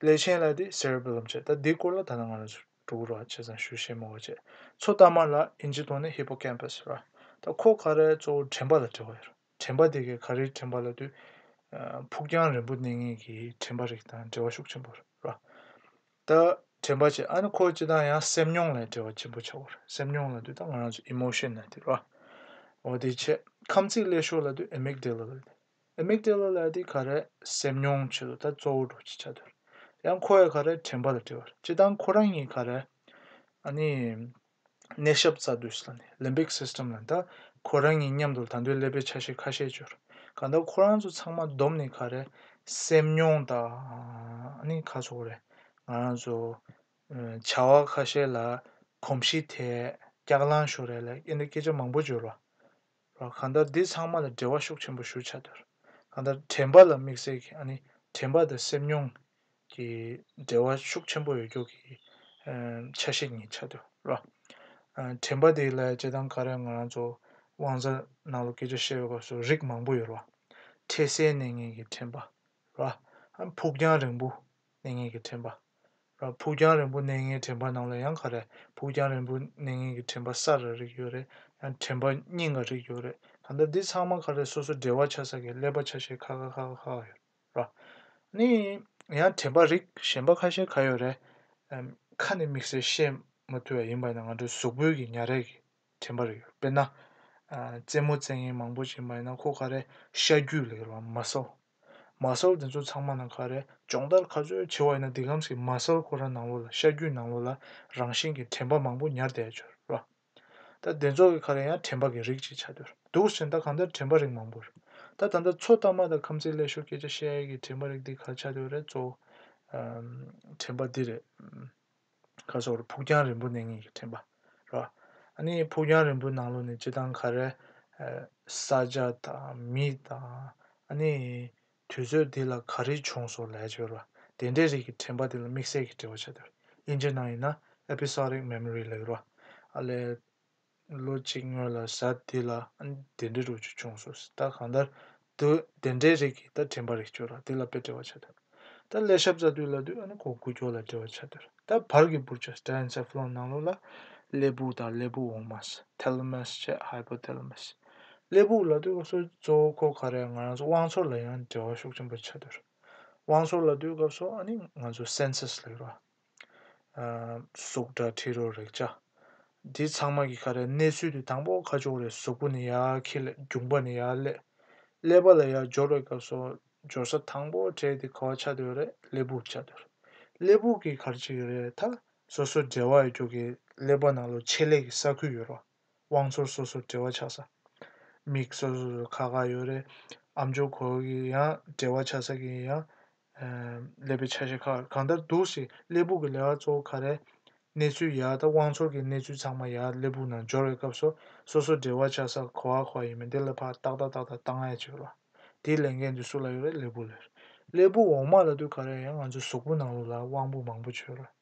Speaker 1: ཀླད་ཆེན་ལ་དེ Cerebellum བྱས། ད་འདིའི་སྐོར་ལ་ད་ལྟ་ང་རང་ཚོས་གྲུ་གུ་ར་བྱས་ཙང་ཞུ་ཤེས་མོ་བ་བྱས། མཚོ་རྟ་དམར་ལ་ཨིན་ཇི་ཐོག་ནས Hippocampus ར། ད་ཁོ་ཁ་རས་གཙོ་བོ་དྲན་པ་ལ་འབྲེལ་བ་ཡོད་ར། དྲན་པ་དེ་གའི་ཁ་རིའི་དྲན་པ་ལ་དུས། ཕུགས་རྒྱང་རིང་པོ་གནས་ངེས་ཀྱི་དྲན་པ་རིགས་དང་འབྲེལ་བ་ཤུགས་ཆེན་པོ་ར། ད་དྲན་པ་བྱས་ཨ་ནི་ཁོ་ཅི་དང་ཡང་སེམས་མྱོང་ལས་འབྲེལ་བ་ཆེན་པོ་ཆགས་བ་ར། སེམས་མྱོང་ལ་དུས་ད་ང་རང་ཚོས Emotion ལ་དེ་ར། འོ་དེ་བྱས། ཁམས་ཚིག་ཀླད་ཤོག་ལ་དུས Amygdala ལ་དེ། Amygdala ལ་དེ་ག་རེ་སེམས་མྱོང་བྱེད་དོ་ད་གཙོ་བོ་འགྲོ་བྱེད་བྱ་དོ། ཡང་ཁོ་བས་ག་རེ་དྲན་པ་ལ་བྲེལ་བ། ཅི་སྟང་ཁོ་རང་ཉིད་ག་རེ་ཨ་ནི་ནད་ཞབས་རྩ་དུས་ལ་ནི Limbic System ལ་ད་ཁོ་རང་ཉིད་མཉམ་དུ་ད་འདོད་ཀླད་པའི་ཆ་ཤས་ཁ་ཤས་སྦྱོར་ག་ད་ཁོ་རང་ཚོ་ཚང་མ་བསྡོམས་ནས་ག་རེ་སེམས་མྱོང་ད་ཨ་ནི་ཁ་ཚོ་རེ་ང་རང་ཚོ་བྱ་བ་ཁ་ཤས་ལ་གོམས་གཤིས་ཐད་སྐྱག་ལང་ཞོར་རེ་ལ་ཨེ་འདི་སྐད་ཆ་མང་པོ་སྦྱོར་བ། ལ། གང་ལྟར་འདི་ཚང་མ་ལ་འབྲེལ་བ་ཤུགས་ཆེན་པོ་ཞུ་བྱ་འདུག་གང་ལྟར་དྲན་པ་ལ་དམིགས་བསལ་གྱི་ཨ་ནི་དྲན་པ་དང་སེམས་མྱོང་གི་འབྲེལ་བ་ཤུགས་ཆེན་པོ་ཡོད་རྒྱུ་གི་ཆ་ཤས་གཉིས་ཆགས་འདུག་ལ། དྲན་པ་དེ་ལ་བྱེད་སྟངས་ག་རེ་ང་རང་ཚོ་དབང་རྩ་ནང་ལ་སྐད་ཆ་བཤད་པའི་སྐབས་སུ་རིགས་མང་པོ་ཡོད་ལ། འཕྲལ་སེལ་གནས་ངན་གྱི་དྲན་པ། ལ། ཕུགས་རྒྱང་རིང་པོ་གནས་ངན་གྱི་དྲན་པ། ར་ཕུག་རྒྱང་རིང་པོ་གནས་ངན་དྲན་པ་རྣམས་ལ་ཡང་ག་རེ་ཕུག་རྒྱང་རིང་པོ་གནས་ངན་གྱི་དྲན་པ་ས་རེ་རིགས་ཡོད་རེད་ཡང་དྲན་པ་སྙིང་ག་རིགས་ཡོད་རེད་ད་ལྟ་འདི་ཚང་མ་ག་རེ་སོ་སོ་འབྲེལ་བ་ཆ་ས་གི་ཀླད་པ་ཆ་ཤས་ཁ་ཁ་ཁ་ཁ་ཁ་ཡོད་ར། ནི་ཡང་དྲན་པ་རིགས་གཞན་པ་ཁ་ཤས་ག་ཡོད་རེད། ཁ་ནས་དམིགས་བསལ་བཤད་མ་ཐུབ་པ་ཡིན་པ་ནི་ང་ཚོའི་གཟུགས་པོའི་གི་ཉྭ་རས་གི་དྲན་པར་ཡོད། དཔེར་ན། རྩེད་མོ་རྩེད་མཁན་མང་པོ་ཞིག་མ་ཡིན་ན་ཁོ་ག་རེ་ཤ་རྒྱུས་ལེགས་ལ་མ་སོ། མ་སོར་དེ་ཚོ་ཚང་མ་ནང་ག་རེ་སྦྱོང་བརྡར་ག་ཚོད་བྱས་བ་ཡིན་ན་འདི་གམ་ཞིག་མ་སོར་ཁོ་རང་ནང་ལོགས་ལ་ཤ་རྒྱུས་ནང་ལོགས་ལ་རང་བཞིན་གྱི་དྲན་པ་མང་པོ་ཉར་བསྡད་ཆོག་རེད་པ། ད་དེ་ཚོ་ག་རེ་ཡང་དྲན་པ་གི་རིགས་ཅིག་ཆགས་འདུག་འདུག་ཟེར་ན་ད་གང་ལྟར་དྲན་པ་རིགས་མང་པོ་རེད། ད་ད་ལྟ་ཚོ་ལྟ་མ་དང་ཁམས་ཚིག་ཀླད་ཤོར་སྐད་ཆ་བཤད་ཡས་ཀྱི་དྲན་པ་རིགས་འདི་ག་ཆགས་འདུག་རེད་གཙོ་བོ་དྲན་པ་འདི་རེད། ཁ་སོགས་རུ་ཕུག་རྒྱང་རིང་པོ་གནས་ངེས་ཀྱི་ཕྲེང་བ་རོ། ནི་ཕུག་རྒྱང་རིང་པོའི་ནང་ལོགས་ནས་སྤྱི་དང་ཁ་རལ། ས་བྱ་དང་མི་དང། ནི། དུས་ཚོད་དེ་ལ་ག་རེ་བྱུང་སོགས་ལས་ཅི་བར་བ། དེ་འདྲའི་རིགས་ཀྱི་ཕྲེང་བ་དེ་ལ་དམིགས་བསལ་གྱི་འགྲེལ་བ་བྱ་འདོད། དབྱིན་ཇི་ནང་ཡིན་ན Episodic Memory ལས་ཀྱི་རོ། ལས། ལོ་གཅིག་སྔོན་ལ་གཟའ་དེ་ལ་དེ་འདྲའི་རོ་ཅིག་བྱུང་སོང་ཟེར་ད་གང་ལྟར་དུ་དེ་འདྲའི་རིགས་ཀྱིས་ད་དྲན་པ་རིགས་བཅོས་ལ་དེ་ལ་དཔེ་བྲེལ་བ་བྱ་འདོད་ད་ཀླད་ཞབས་རྩ་དུས་ལ་དུས་ཨ་ནི་གོ་དགུ་སྐྱོར་ལ་བྲེལ་བ་བྱ་འདོད་ད་བར་གྱི་པུར་ཅོས Telencephalon ནང་ལོགས་ལ་ཀླད་བུག་དང་ཀླད་བུག་འོག་མ Thalamus བཅས Hypothalamus ཀླད་བུག་ལ་དུས་ཁ་སོས་གཙོ་བོ་ཁོ་ག་རེད་ང་རང་ཚོ་དབང་ཚོར་ལ་ཡང་བྲེལ་བ་ཤུགས་ཆེན་པོ་བྱ་འདོད་དབང་ཚོར་ལ་དུས་སྐབས་སོགས་ཨ་ནི་ང་ཚོ Senses ལས་རོ། གཟུགས་སྒྲ་དྲི་རོ་རེག་བྱ། འདི་ཚང་མ་གི་ཁ་རས་གནས་ཚུལ་དུ་དང་པོ་ཁ་སྦྱོར་བའི་གཟུགས་པོ་ནི་ཡར་ཁྱི་ལས་རྒྱུང་པ་ནི་ཡར་ཀླད། ཀླད་པ་ལ་ཡར་སྦྱོར་བའི་སྐབས་སོ་སྦྱོར་ས་དང་པོ་བྲལ་ཏེ་ཁ་བ་ཆ་དོད་རས་ཀླད་སྦུག་ཆ་དོད་རས་ཀླད་སྦུག་གི་ཁར་གཅིག་རས་མཐའ་སོ་སོར་འབྲེལ་བ་ཡོད་རྒྱུ་གི་ཀླད་པ་ནང་ལོ་ཆེ་ལེགས་ཀྱི་ས་ཁུལ་ཡོད་རོ། དབང་ཚོར་སོ་སོར་བྲེལ་བ་ཆགས་ས། མིག་སོ་སོ་སོ་ཁ་ཁ་ཡོད་རེད། ཨ་མཆོག་ཁོ་གི་ཡང་བྲེལ་བ་ཆགས་ས་གི་ཡང། ཀླད་པའི་ཆ་ཤས་ཁ་གང་ལྟར་འདུག་ཞེས་ཀླད་བུག་གི་ལས་ཀ་གཙོ་བོ་ཁ་རལ། གནས་ཚུལ་ཡག་དང་དབང་ཚོར་གྱི་གནས་ཚུལ་ཚང་མ་ཡག་ཀླད་བུག་ནང་འབྱོར་བའི་སྐབས་སོ་སོ་སོ་བྲེལ་བ་ཆགས་ས་ཁོ་བ་ཁོ་བ་ཡིན་མིན་དེ་ལ་ཕར་ཏག་ཏག་ཏག་ཏག་བཏང་ཡ་ཅིག་རོགས། དེའི་ལས་འགན་དེ་སུ་ལ་ཡོད་རེད་ཀླད་བུག་ལ་རེད། ཀླད་བུག་འོག་མ་ལ་དུས་ག་རེ་ཡང་ང་ཚོའི་གཟུགས་པོ་ནང་ལུགས་ལ་དབང་པོ་མང་པོ་བྱོས་རོགས།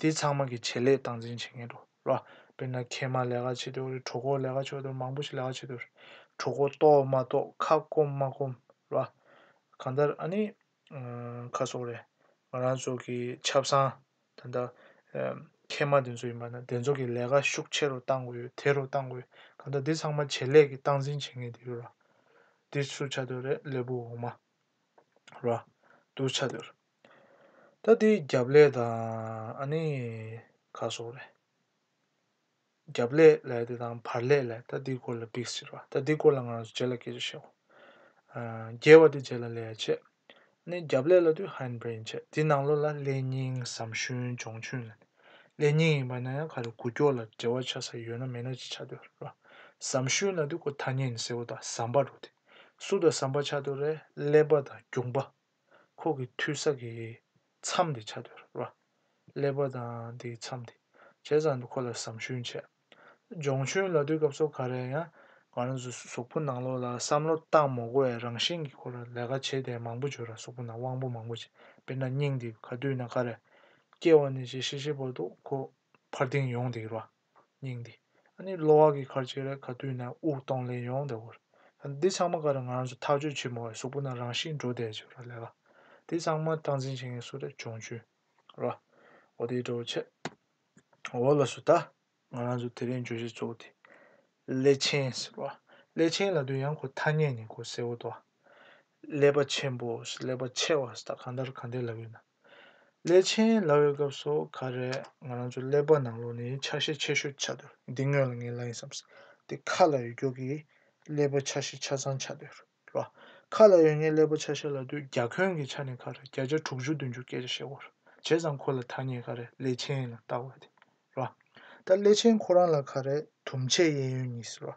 Speaker 1: དེ་ཚང་མ་གི་བྱེད་ལས་སྟངས་འཛིན་བྱེད་མཁན་འགྲོ་ལ། དཔེར་ན་ཁལ་མ་ལས་ཀ་བྱེད་དུས་འོ་རེད་གྲོ་གོར་ལས་ཀ་བྱོས་དུས་མང་པོ་ཞིག་ལས་ཀ་བྱེད་དུས་རེད། གྲོ་གོར་གཏོགས་མ་གཏོགས་ཁ་སྐོམ་མ་སྐོམ་ལ། གང་ལྟར་ཨ་ནི། ཁ་སོགས་རེད། ང་རང་ཚོ་གི་ཆབ་སངས་ད་ལྟ། ཁལ་མ་དེ་ཚོ་ཡིན་པ་ན་དེ་ཚོ་གི་ལས་ཀ་ཤུགས་ཆེ་རུ་གཏང་དགོས་ཡོད་དེ་རུ་གཏང་དགོས་ཡོད་གང་ལྟར་དེ་ཚང་མ་བྱེད་ལས་ཀི་སྟངས་འཛིན་བྱེད་མཁན་དེ་ཡོད་ར། དེ་སུ་བྱ་དུས་རེད་ལས་བུ་འོག་མ་ར། དུ་བྱ་དུས་རེད། ད་དེའི་རྒྱབ་ལས་དང་ཨ་ནི་ཁ་སོགས་རེད། རྒྱབ་ལས་ལས་དེ་དང་བར་ལས་ལས་ད་དེའི་སྐོར་ལ་བིས་ཟེར་བ་ད་དེའི་སྐོར་ལ་ང་རང་ཚོ་རྗེས་ལ་སྐད་ཆ་བཤད་བོ། རྒྱལ་བ་དེ་རྗེས་ལ་ལས་བྱེད། ཨ་ནི་རྒྱབ་ལས་ལ་དུས་ཧན་བྷེན་བྱེད་དེའི་ནང་ལོགས་ལ་ལས་རྙིང་ཟམ་ཤུན་ལྗོངས་ཆུན་ལ་ལས་རྙིང་ཡིན་པ་ན་ཡང་ག་རེ་གུ་ཀྱོག་ལ་འབྲེལ་བ་ཆགས་ས་ཡོད་ན་མེད་ན་ཅི་ཆགས་འདོད་རེད། ཟམ་ཤུན་ལ་དུས་ཀོ་ཐ་སྙན་ཟེར་བོ་དང་ཟམ་པ་རུ་དེ་སུ་དང་ཟམ་པ་ཆགས་འདོད་རེད་ཀླད་པ་དང་རྒྱུག་པ། ཁོག་གི་མཐུད་ས་གི་མཚམས་དེ་ཆ་དོར་བ། ཀླད་པ་དང་དེའི་མཚམས་དེ་ཇེ་བཟང་དུ་འཁོར་ལ་ཟམ་ཞུན་བྱས། སྦྱོང་ཞུན་ལ་དུས་སྐབས་སོགས་ག་རེ་ཡང་གང་རུང་གཟུགས་པོ་ནང་ལོགས་ལ་བསམ་བློ་བཏང་མོག་པོ་བའི་རང་བཞིན་གྱི་སྐོར་ལ་ལས་ཀ་བྱས་དེ་མང་པོ་འབྱོར་ར་གཟུགས་པོ་ནང་དབང་པོ་མང་པོ་བྱས་དཔེར་ན་སྙིང་འདི་ག་དུས་ན་ག་རེ་སྐྱེ་བ་ནས་ཇེ་ཤེས་ཤེས་པོ་འདུག་ཁོ་འཕར་ལྡིང་ཡོང་སྡིགས་ར། སྙིང་འདི། ཨ་ནི་གློ་བ་གི་ཁར་བཅད་རེ་ག་བཏུས་ནས་དབུགས་གཏོང་ལེན་ཡོང་བདེ་བོར། འདི་ཚང་མ་ག་རེ་ང་རང་ཚོ་ཐག་གཅོད་བྱེད་མི་འོས་གཟུགས་པོ་ན་རང་ཤི་འགྲོ་བསྡད་ཅེས་ར་ལས་ལ། འདི་ཚང་མ་སྟངས་འཛིན་བྱེད་མཁན་སུ་རེད་ཅོང་ཆུ། ར། འོ་དེའི་འདྲ་བོ་ཆེ། འོ་ལ་སུ་ད། ང་རང་ཚོ་དེ་རིང་བརྗོད་གཞི་གཙོ་བོ་དེ། སླད་ཕྱིན། ར། སླད་ཕྱིན་ལ་དུས་ཡང་གོ་ཐ་སྙད་ནི་གོ་གསལ་བོ་འདུག་ཨ། ཀླད་པ་ཆེན་པོ་ཀླད་པ་ཆེ་བ་ད་གང་ལྟར་གང་བདེ་ལབ་ཡོད་ན། ཀླད་ཆེན་ལབ་ཡོད་སྐབས་སུ་ག་རེ་ང་རང་ཚོ་ཀླད་པ་ནང་ལོགས་ནས་ཆ་ཤས་ཆེ་ཤོས་ཆགས་འདུག་འདི་དངོས་ལ་ངས་ལབ་ཡིན་བསམ་སྲིད་དེ་ཁ་ལ་ཡོད་ཀྱོག་གིས་ཀླད་པ་ཆ་ཤས་ཆ་ཚང་ཆགས་འདུག་རོ། ཁ་ལ་ཡོད་ངེས་ཀླད་པ་ཆ་ཤས་ལབ་དུས་རྒྱ་གོན་གྱི་ཆ་ནས་ཁ་རེ་བརྒྱ་ཆ་དྲུག་ཅུ་བདུན་ཅུ་སྐད་ཆ་བཤད་དགོས་རེད་བྱས་ཙང་ཁོ་ལ་ཐ་སྙད་ག་རེ་ཀླད་ཆེན་ལ་བཏགས་བ་དེ་རོ། ད་སླད་ཕྱིན་ཁོ་རང་ལ་ག་རེ་དུམ་ཆད་གཡས་གཡོན་གཉིས་ཟེར་རོ།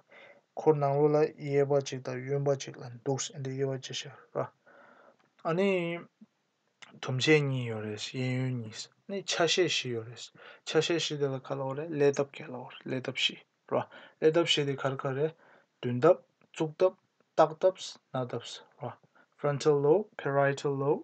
Speaker 1: ཁོ་ནང་ལོགས་ལ་གཡས་པ་གཅིག་དང་གཡོན་པ་གཅིག་ལ་འདུག་ཟེར་འདི་གཡས་པ་གཅིག་ཤར་རོ། ཨ་ནི། དུམ་ཆད་གཉིས་ཡོད་རེད་གཡས་གཡོན་གཉིས་ནི་ཆ་ཤས་བཞི་ཡོད་རེད། ཆ་ཤས་བཞི་དེ་ལ་ག་ལ་འོ་རེད་ཀླད་སྟབས་བརྒྱད་ལ་འོ་རེད་ཀླད་སྟབས་བཞི་རོ། ཀླད་སྟབས་བཞི་དེ་གར་ག་རེད་མདུན་སྟབས་གཙུག་སྟབས་སྟག་སྟབས་སྣ་སྟབས་རོ། Frontal Lobe Parietal Lobe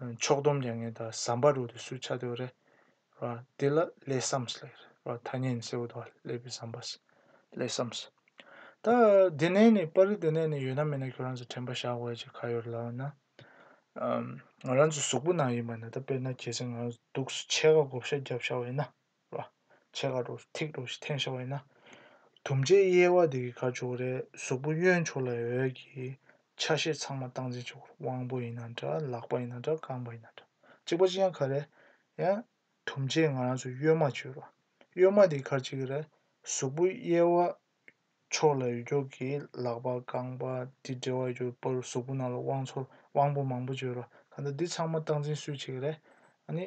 Speaker 1: ཕྱོགས་སྡོམ་རྒྱ་ངན་དང་ཟམ་པ་རུ་དུ་སུས་ཆ་དོ་རེད་ར་དེ་ལ་ལས་སམས་ལེ་ར་ཐ་སྙད་ནི་སེའུ་དོ་ལེ་པི་ཟམ་པ་སི་ལས་སམས། ད་དེ་ནས་ནི་པར་རི་དེ་ནས་ནི་ཡོད་ན་མེད་ན་ཁྱོད་རང་ཚོ་དྲན་པ་བཞག་དགོས་ཀྱི་ཁ་ཡོད་ལབ་ན་ང་རང་ཚོ་གཟུགས་པོ་ནང་ཡིན་པ་ན་ད་དཔེར་ན་ཁྱེད་ཚོས་ང་རང་ཚོ་སྡུགས་སུ་ཆས་ཁ་བགོ་བཤའ་རྒྱབ་བཞག་འོས་ན། ལ། ཆེ་ག་རུ་ཐིག་རུ་ཞིག་འཐེན་ཤ་བ་ཡིན་ན། དུམ་བརྒྱའི་དབྱེ་བ་དེ་གི་གར་བྱུག་རེ་གཟུགས་པོ་གཡོན་ཕྱོགས་ལ་འོད་ཀྱི་ཆ་ཤས་ཚང་མ་སྟངས་འཛིན་བྱེད་དགོས་དབང་པོ་ཡིན་ན་འདྲ་ལག་པ་ཡིན་ན་འདྲ་རྐང་པ་ཡིན་ན་འདྲ་གཅིག་པ་ཅི་ཡང་ག་རེ་ཡང། དུམ་བརྒྱས་ང་རང་ཚོས་གཡོན་མ་བྱོས་རོགས། གཡོན་མ་དེ་གར་བྱེད་ཀྱི་རེ་གཟུགས་པོ་དབྱེ་བ་ཕྱོགས་ལ་འོད་ཀྱོག་གི་ལག་པ་རྐང་པ་དེ་འབྲེལ་བ་ཡོད་པོ་རུ་གཟུགས་པོ་ནང་ལ་དབང་ཚོར་དབང་པོ་མང་པོ་བྱོས་རོགས་ག་འདྲ་འདི་ཚང་མ་སྟངས་འཛིན་སུས་བྱེད་ཀྱི་རེ་ཨ་ནི།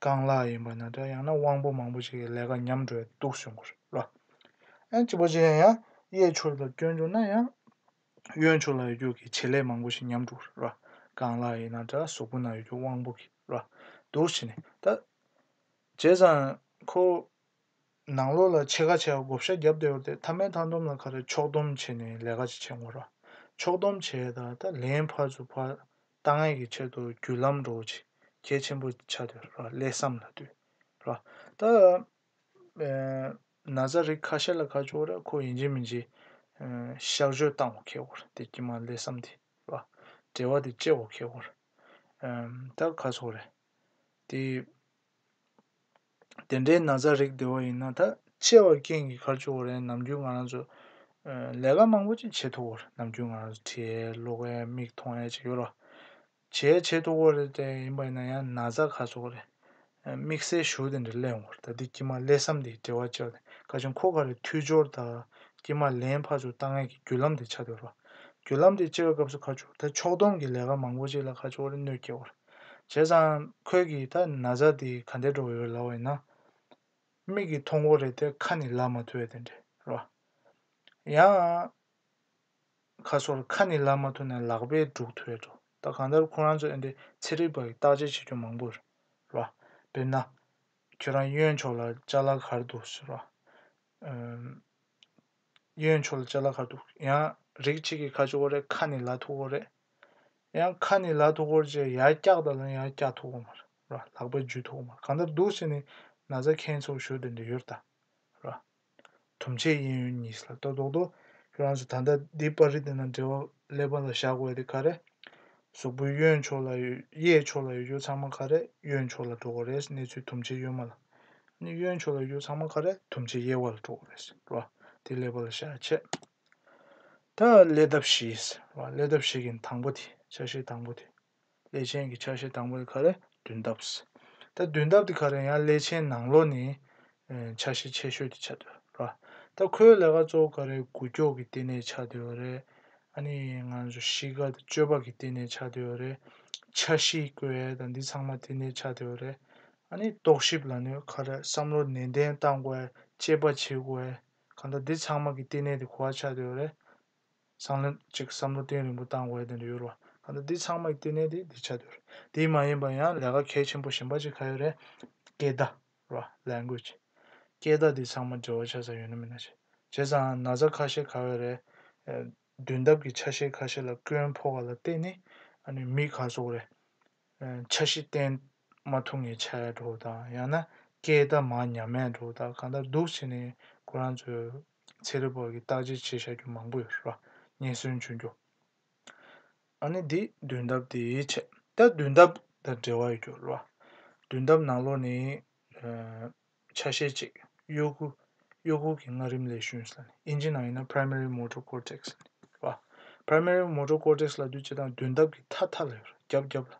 Speaker 1: རྐང་ལག་ཡིན་པ་ན་འདྲ་ཡང་ན་དབང་པོ་མང་པོ་ཞིག་གི་ལས་ཀ་ཉམས་འགྲོ་ཡི་འདུག་ཟེར་གོ་རེ་བ། ཨེ་ཅི་པོ་ཅི་ཡིན་ཡང་གཡས་ཕྱོགས་ལ་སྐྱོན་བྱུང་ན་ཡང། གཡོན་ཕྱོགས་ལ་ཡོད་རྒྱུ་གི་བྱེད་ལས་མང་པོ་ཞིག་ཉམས་འགྲོ་རེ་བ། རྐང་ལག་ཡིན་ན་འདྲ་གཟུགས་པོ་ན་ཡོད་རྒྱུ་དབང་པོ་གི་རེ་བ་འདུག་བྱས་ནས་ད། བྱས་ཙང་ཁོ། ནང་ལོགས་ལ་ཕྱེད་ཀ་ཕྱེད་ཀ་བགོ་བཤའ་བརྒྱབ་བསྡད་ཡོད་དེ་མཐའ་མའི་མཐའ་འདོམས་ལ་ཁ་རེ་ཕྱོགས་སྡོམ་བྱས་ནས་ལས་ཀ་ཅིག་བྱེད་དགོས་རེ་བ། ཕྱོགས་སྡོམ་བྱས་ད་ད་ལན་ཕར་ཚུར་ཕར་ལྟ་ངན་གྱི་ཆེད་དུ་རྒྱུད་ལམ་འགྲོ་བ་ཆེ་གེ་ཆེན་པོ་ཆགས་ཏེ་ལས་བསམ་ལ་དུས། ད་ན་བཟའ་རིགས་ཁ་ཤས་ལ་ཁ་ཕྱོགས་ར་ཁོ་ཡིན་གྱི་མིན་གྱི་གཤག་བཅོས་བཏང་བ་ཁེགས་བོར་དེ་ཀྱི་མ་ལས་བསམ་དེ། བྲེལ་བ་དེ་སྐྱེ་བ་ཁེགས་བོར། ད་ག་ཚོགས་རེད། དེ། དེ་འདྲའི་ན་ཚ་རིགས་དེ་བ་ཡིན་ན་ད་ཆེ་བ་རྐྱེན་གྱི་ཁར་བཅུག་བ་རེད་ནམ་རྒྱུན་ང་རང་ཚོ་ལས་ཀ་མང་པོ་ཅིག་བྱེད་ཐུག་བར་ནམ་རྒྱུན་ང་རང་ཚོ་ཁྲིད་ཡས་ཀློག་ཡས་མིག་མཐོང་ཡས་ཅིག་ཡོད་རོ། བྱས་བྱེད་ཐུག་བ་རེད་དེ་ཡིན་པ་ཡིན་ན་ཡང་ན་ཚ་ཁ་ཚུགས་རེད། དམིགས་བསལ་ཞུ་དེ་འདྲ་གླས་ཡོང་བར་ད་ལྟའི་དཀྱིལ་མ་གླས་བསམ་དེའི་བྲེལ་བ་བཅད་པ་དེ་ཁ་ཆེ་མཁོ་ཁ་རེད་མཐུད་སྦྱོར་དང་དཀྱིལ་མ་ལེན་ཕར་ཚུར་བཏང་ངན་གྱི་བརྒྱུད་ལམ་དེ་ཆགས་འདོད་རོ། བརྒྱུད་ལམ་དེ་བཅད་པའི་སྐབས་སུ་ཁ་བཅུག་ད་ཕྱོགས་བསྡོམས་ཀྱི་ལས་ཀ་མང་པོ་ཅིག་ལ་ཁ་བཅུག་བ་རེད་གནོད་སྐྱེལ་བར། བྱས་ཙང་ཁོད་ཀྱིས་ད་ན་བཟའ་དེ་ག་འདྲས་འགྲོ་ཡོད་ལབ་ཡིན་ན། མིག་གིས་མཐོང་གོ་རེད་དེ་ཁ་ནས་ལབ་མ་ཐུབ་ཡོད་དེ་འདྲས་རོ། ཡང། ཁ་སོར་ཁ་ནས་ལབ་མ་ཐུབ་ན་ལག་པས་སྒྲུག་ཐུབ་ཡོད་འགྲོ་ད་གང་ལྟར་ཁོ་རང་ཚོ་ཨེ་འདྲས་ཚེ་རིག་པ་ཡི་བརྟག་དཔྱད་བྱེད་རྒྱུ་མང་པོ་རེད་རོ། དཔེར་ན། ཁྱོད་རང་གཡོན་ཕྱོགས་ལ་ལྕགས་ལ་གར་འདུག་ཟེར་རོ། གཡོན་མཆོག་ལ་ལྕེ་ལ་ཁ་ཐུག་ཡང་རིགས་གཅིག་གི་ཁ་ཆུ་བོ་རེད་ཁ་ནི་ལ་ཐུག་བོ་རེད། ཡང་ཁ་ནི་ལ་ཐུག་བོར་བཅས་ཡར་བཀྱག་དང་ལ་ཡར་བཀྱག་ཐུག་བོ་མ་རེད་ར་ལག་པས་འཇུས་ཐུག་བོ་མ་རེད་གང་ལྟར་སྡུག་བསྲེས་ནས་ན་བཟའ་མཁན་ཚོ་བཞུགས་དེ་འདི་ཡོད་ལྟ་ར། དུམ་ཆེ་གཡས་གཡོན་གཉིས་སུ་ལ་ལྟོ་རྡོག་རྡོག་ཁྱོད་རང་ཚོ་ད་ལྟ་འདི་པར་རིས་དེ་ན་འབྲེལ་བ་ཀླད་པ་ལ་བཞག་འོས་དེ་ག་རེད། གཟུགས་པོའི་གཡོན་ཕྱོགས་ལ་ཡོད་གཡས་ཕྱོགས་ལ་ཡོད་རྒྱུ་ཚང་མ་ག་རེད་གཡོན་ཕྱོགས་ལ་འགྲོ་དགོས་རེད་གནས་ཚུལ་དུམ་ཆེ་གཡོན་མ་ལ། ནི་གཡོན་ཕྱོགས་ལ་གཡུ་ཚང་མ་ཁ་རལ་དུམ་ཆེ་གཡས་བར་ལ་གྲོག་རལ་ཞེས་པ་དེ་ལེགས་པ་ལ་ཤ་ཆད། ད་ཀླད་འདབ་བཞི་ཞེས་པ་ཀླད་འདབ་བཞི་གི་དང་པོ་དེ་ཆ་ཤས་དང་པོ་དེ། ཀླད་ཆེན་གྱི་ཆ་ཤས་དང་པོ་དེ་ཁ་རལ་བདུན་འདབ། ད་བདུན་འདབ་དེ་ཁ་རལ་ཡང་ཀླད་ཆེན་ནང་ལོགས་ནི་ཆ་ཤས་ཆེ་ཤོས་དེ་ཆ་དོ་ར། ད་ཁོའི་ལས་ཀ་གཙོ་བོ་ཁ་རལ་དགུ་ཀྱོག་གི་ལྟེ་གནས་ཆ་དོ་ར་རེད། ཨ་ནི་ང་ཚོ་གཞིས་ཀ་དང་ཅོ་པ་གི་ལྟེ་གནས་ཆ་དོ་ར་རེད། ཆ་བཞི་ཀོའི་ཨའི་དང་འདི་ཚང་མ་ལྟེ་གནས་ཆ་དོ་ར་རེད། ཨ་ནི་རྟོག་ཞིབ་ལ་ནི་ཁ་རས་བསམ་བློ་ནན་ཏན་བཏང་དགོས་དཔྱད་པ་བྱེད་དགོས་གང་ལྟར་འདི་ཚང་མ་གི་ལྟེ་གནས་དེ་གོ་བ་ཆགས་དུས་རེད་སང་ལོ་གཅིག་བསམ་བློ་གཏིང་རིང་པོ་བཏང་དགོས་དེ་འདྲ་ཡོད་རེད་གང་ལྟར་འདི་ཚང་མ་གི་ལྟེ་གནས་དེ་འདི་ཆགས་དུས་རེད་དེ་མ་ཡིན་པར་ཡང་ལས་ཀ་གལ་ཆེན་པོ་གཞན་པ་གཅིག་ག་ཡོད་རེད་སྐད་བརྡ་རེད Language སྐད་བརྡ་འདི་ཚང་མ་འབྲེལ་བ་ཆགས་ས་ཡོད་ན་མིན་ན་བྱས་ཙང་ན་ཚ་ཁ་ཤས་ག་ཡོད་རེད་དུས་འདབ་གི་ཆ་ཤས་ཁ་ཤས་ལ་བསྐོན་ཕོ་ག་ལ་ལྟེ་གནས་ཨ་ནི་མི་ག་ཚོགས་རེད་ཆ་གཞི་བརྟེན། མ་ཐུག་ངེས་བྱས་འགྲོ་དང་ཡང་ན་སྐད་བརྡ་མ་ཉམས་མེད་འགྲོ་དང་གང་ལྟར་སྡུག་བྱས་ནས་ཁོ་རང་ཚོའི་ཚེ་རིལ་བོར་གྱི་བརྟག་དཔྱད་བྱེད་བཞག་རྒྱུ་མང་པོ་ཡོད་རེད་པ་རྙེད་སོན་བྱུང་རྒྱུ། ཨ་ནི་འདི་དུས་འདབ་དེའི་ཆེད་ད་དུས་འདབ་དང་འབྲེལ་བ་ཡོད་རྒྱུ་རེད་པ། དུས་འདབ་ནང་ལོགས་ནི། ཆ་ཤས་གཅིག་གཡོ་ཁུ། གཡོ་ཁུ་གྱི་སྔ་རིམ་ལས་ཞུན། ཨིན་ཇི་ནང་ཡིན་ན Primary Motor Cortex། རེད་པ། Primary Motor Cortex ལ་དུས་བྱེད་དང་དུས་འདབ་ཀྱི་མཐའ་མཐའ་ལ་ཡོད་རེད་རྒྱབ་རྒྱབ་ལ།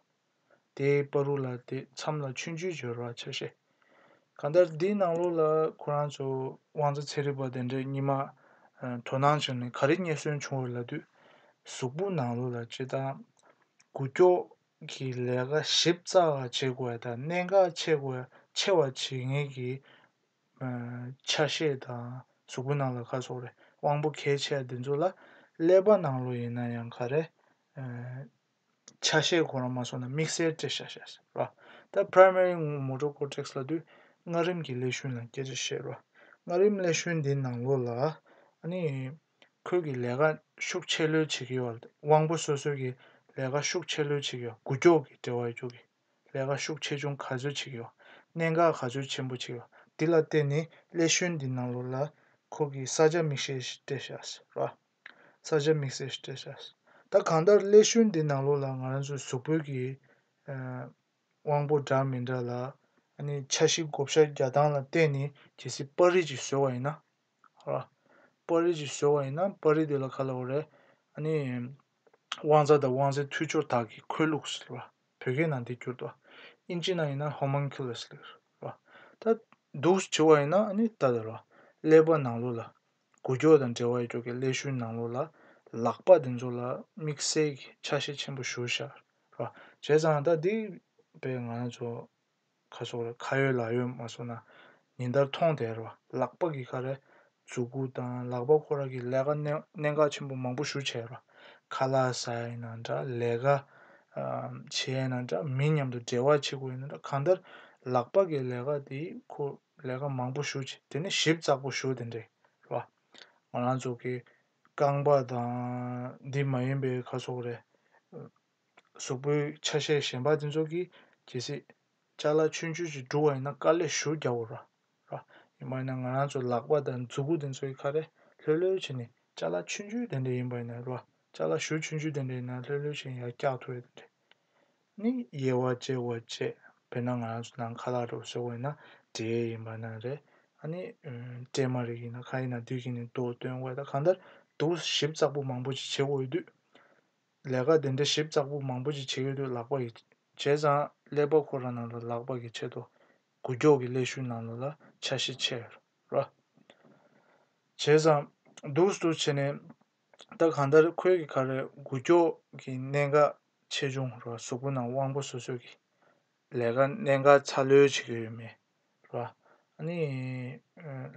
Speaker 1: དེའི་སྤ་རུ་ལ་དེ་མཚམས་ལ་ཆུ་འཇུས་སྦྱོར་བ་བྱ་ཤེས། གང་ལྟར་འདིའི་ནང་ལོགས་ལ་ཁོ་རང་ཚོ་དབང་རྩ་ཚེ་རིང་བ་དེ་འདྲས་གཉིས་མ་དོ་སྣང་བྱུང་ནས་ག་རེ་རྙེད་སོན་བྱུང་བ་ལ་དུས་གཟུགས་པོ་ནང་ལོགས་ལ་སྤྱི་དང། གུ་སྐྱོགས་ཀྱི་ལས་ཀ་ཞིབ་ཚགས་ལ་བྱེད་དགོས་པ་དང་གནད་འགག་ཆེ་བ་ཆེ་བ་བྱེད་ངེས་ཀྱི། ཆ་ཤས་དང་གཟུགས་པོ་ནང་ལ་ཁ་སོགས་རེད་དབང་པོ་གལ་ཆེ་བ་འདི་ཚོ་ལ་ཀླད་པ་ནང་ལོགས་ཡིན་ན་ཡང་ག་རེ། ཆ་ཤས་གོ་རང་མ་སོང་ན་དམིགས་བསལ་སྤྲད་བྱ་ཞེས་ཟེར་རོ། ད Primary Motor Cortex ལ་དུས་སྔ་རིམ་གྱི་ཀླད་ཤུན་ལ་སྐད་ཆ་བཤད་རོགས། སྔ་རིམ་ཀླད་ཤུན་འདི་ནང་ལོགས་ལ་ནི་ཁོས་ཀྱི་ལས་ཀ་ཤུགས་ཆེ་ལོས་བྱེད་ཀྱི་ཡོད། དབང་པོ་སོ་སོས་ཀྱི་ལས་ཀ་ཤུགས་ཆེ་ལོས་བྱེད་ཀྱི་ཡོད། གུ་ཀྱོག་གི་འབྲེལ་བ་རྒྱུག་གི་ལས་ཀ་ཤུགས་ཆེ་ཆུང་ག་ཚོད་བྱེད་ཀྱི་ཡོད། གནད་འགག་ག་ཚོད་ཆེན་པོ་བྱེད་ཀྱི་ཡོད། འདི་ལ་བརྟེན་ནས་ཀླད་ཤུན་འདི་ནང་ལོགས་ལ་ཁོས་ཀྱི་ས་ཆ་དམིགས་བསལ་ཞིག་སྤྲད་བྱ་ཟེར་རོ། ས་ཆ་དམིགས་བསལ་སྤྲད་ས། ད་གང་ལྟར་ཀླད་ཤུལ་འདི་ནང་ལོགས་ལ་ང་རང་ཚོའི་གཟུགས་པོད་ཀྱི་དབང་པོ་འདྲ་མི་འདྲ་ལ། ནི་ཆ་བཞི་བགོ་བཤའ་རྒྱ་སྟངས་ལ་བལྟས་ནས་གལ་སྲིད་དཔའ་རིས་ཀྱིས་བཟོས་བ་ཡིན་ན། ཧོ། དཔའ་རིས་ཀྱིས་བཟོས་བ་ཡིན་ན་དཔའ་རིས་དེ་ལ་ག་ལ་འོ་རེད། ནི། དབང་རྩ་དང་དབང་རྩའི་མཐུད་སྦྱོར་དག་གིས་ཁོལ་ལུགས་སུ། བོད་སྐད་ནང་འདི་བསྒྱུར་ཏོ། དབྱིན་ཇི་ནང་ཡིན་ན Homunculus། ལུགས། ད། འདུག་ཅེས་བྱ་བ་ཡིན་ན་ནི་ད། ཀླད་པ་ནང་ལོགས་ལ། གུ་ཅོ་དང་འབྲེལ་བ་ཡོད་པའི་ཀླད་ཤུལ་ནང་ལོགས་ལ་ལག་པ་དེ་ཚོ་ལ་དམིགས་བསལ་གྱི་ཆ་ཤས་ཆེན་པོ་བཞུར་བཞག་རོགས་བྱས་ཙང་ད་འདི་བས་ང་ཚོ་ཁ་སོགས་ལ་ཁ་ཡོད་ལག་ཡོད་མ་སོང་ན་ཉིན་ལྟར་མཐོང་དེ་རོགས་ལག་པ་གི་ཁ་རས་མཛུ་གུ་དང་ལག་པ་ཁོ་ར་གི་ལས་ཀ་གནད་འགག་ཆེན་པོ་མང་པོ་བཞུར་བྱས་རོགས་ཁ་ལག་ཟ་ཡི་ན་འདྲ་ལས་ཀ་བྱེད་ཡི་ན་འདྲ་མི་མཉམ་དུ་འབྲེལ་བ་བྱེད་དགོས་ཡི་ན་འདྲ་གང་ལྟར་ལག་པ་གི་ལས་ཀ་དེ་ཁོ་ལས་ཀ་མང་པོ་ཞུ་ཅིག་དེ་ནས་ཞིབ་ཙག་པོ་ཞུ་དེ་འདྲས་རེད་བ། ང་རང་ཚོ་གི་རྐང་པ་དང་འདི་མ་ཡིན་པའི་ཁ་སོག་རེད། གཟུགས་པོའི་ཆ་ཤས་གཞན་པ་དེ་ཚོ་གིས་གྱིས་སྲིད། ལྕགས་ལ་ཆུན་ཆུན་ཞིག་འབྲུ་བ་ཡིན་ན་དཀའ་ལས་ཞུ་རྒྱག་འོ་ར། ཡིན་པ་ཡིན་ན་ང་རང་ཚོ་ལག་པ་དང་མཛུ་གུ་དེ་ཚོའི་ཁ་རེ་ལྷོད་ལྷོད་བྱས་ནས་ལྕགས་ལ་ཆུན་ཆུན་དེ་འདྲས་ཡིན་པ་ཡིན་ན་རེད་བ། ལྕགས་ལ་གཞུ་ཆུན་ཆུན་དེ་འདྲས་ཡིན་ན་ལྷོད་ལྷོད་བྱས་ཡར་བཀྱག་ཐུབ་ཡོད་དེ་འདྲས། ནི་དབྱེ་བ་འབྱེད་དགོས་བཅས་དཔེར་ན་ང་རང་ཚོ་ནང་ཁ་ལག་རོགས་ཞོག་བས་ན་འདྲེ་ཡིན་པ་ན་རེ་ཨ་ནི་སྤྲེལ་མ་རིགས་ཡིན་ན་ཁ་ཡིན་ན་བདུད་ཀྱི་ནི་མདོ་སྟོན་དགོས་ད་གང་ལྟར་དུག་ཞིབ་བཙགས་པོ་མང་པོ་ཅིག་བྱེད་འོས་དུས་ལས་ཀ་དེ་འདྲ་ཞིབ་བཙགས་པོ་མང་པོ་ཅིག་བྱེད་ཡོད་དུས་ལག་པ་ཡི་བྱས་ཙང་ཀླད་པ་ཁོ་རང་ནང་ལ་ལག་པ་གི་ཆེད་དུ་གུ་རྒྱོག་གི་ཀླད་ཤུལ་ནང་ལ་ལ་ཆ་ཤས་ཆེ་རོ་བྱས་ཙང་དུག་སུ་བྱས་ནས་ད་གང་ལྟར་ཁོལ་གྱི་ཁར་རྒུ་སྐྱོགས་ཀྱི་གནད་འགག་ཆེ་ཆུང་རོ་གཟུགས་པོ་རྣམས་དབང་པོ་སོ་སོས་ཀྱི་ལས་ཀ་གནད་འགག་ཚ་ལོས་བྱེད་ཀྱི་ཡོད་མེད་རོ། ནི།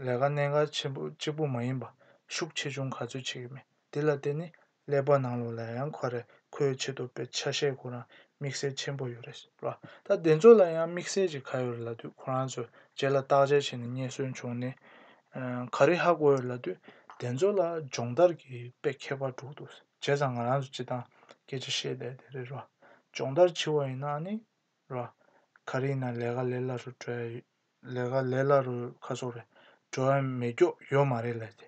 Speaker 1: ལས་ཀ་གནད་འགག་ཆེན་པོ་གཅིག་པོ་མ་ཡིན་པ་ཤུགས་ཆེ་ཆུང་ག་ཚོད་བྱེད་ཀྱི་མེད་དེ་ལ་བརྟེན་ནས་ཀླད་པ་ནང་ལོགས་ལ་ཡང་ཁོ་རེ་ཁོལ་ཆེ་དོ་པའི་ཆ་ཤས་ཁོ་རང་དམིགས་བསལ་ཆེན་པོ་ཡོད་རེད་རོ། ད་དེ་ཚོ་ལ་ཡང་དམིགས་བསལ་གྱི་ག་ཡོད་རེད་ལབ་དུས་ཁོ་རང་ཚོས་རྗེས་ལ་བརྟག་དཔྱད་བྱས་ནས་རྙེད་སོན་བྱུང་ནས་ག་རེ་ཧ་གོ་ཡོད་ལ་དུས་དེ་ཚོ་ལ་སྦྱོང་བརྡར་གྱི་དཔེ་ཁྱད་པར་དྲུག་འདུག་བྱས་ཙང་ང་རང་ཚོ་སྤྱི་བཏང་སྐད་ཆ་བཤད་བསྡད་དེ་རེད་རོ། སྦྱོང་བརྡར་བྱི་བ་ཡིན་ན་ནི་རོ། ག་རེ་ཡིན་ན་ལས་ཀ་ལས་སླ་རུ་བྲོ་ཡ་ཡོད་ལས་ཀ་ལས་སླ་རུ་ཁ་སོག་རེད་བྲོ་ཡ་མེད་སྐྱོག་ཡོད་མ་རེད་ལ་དེ་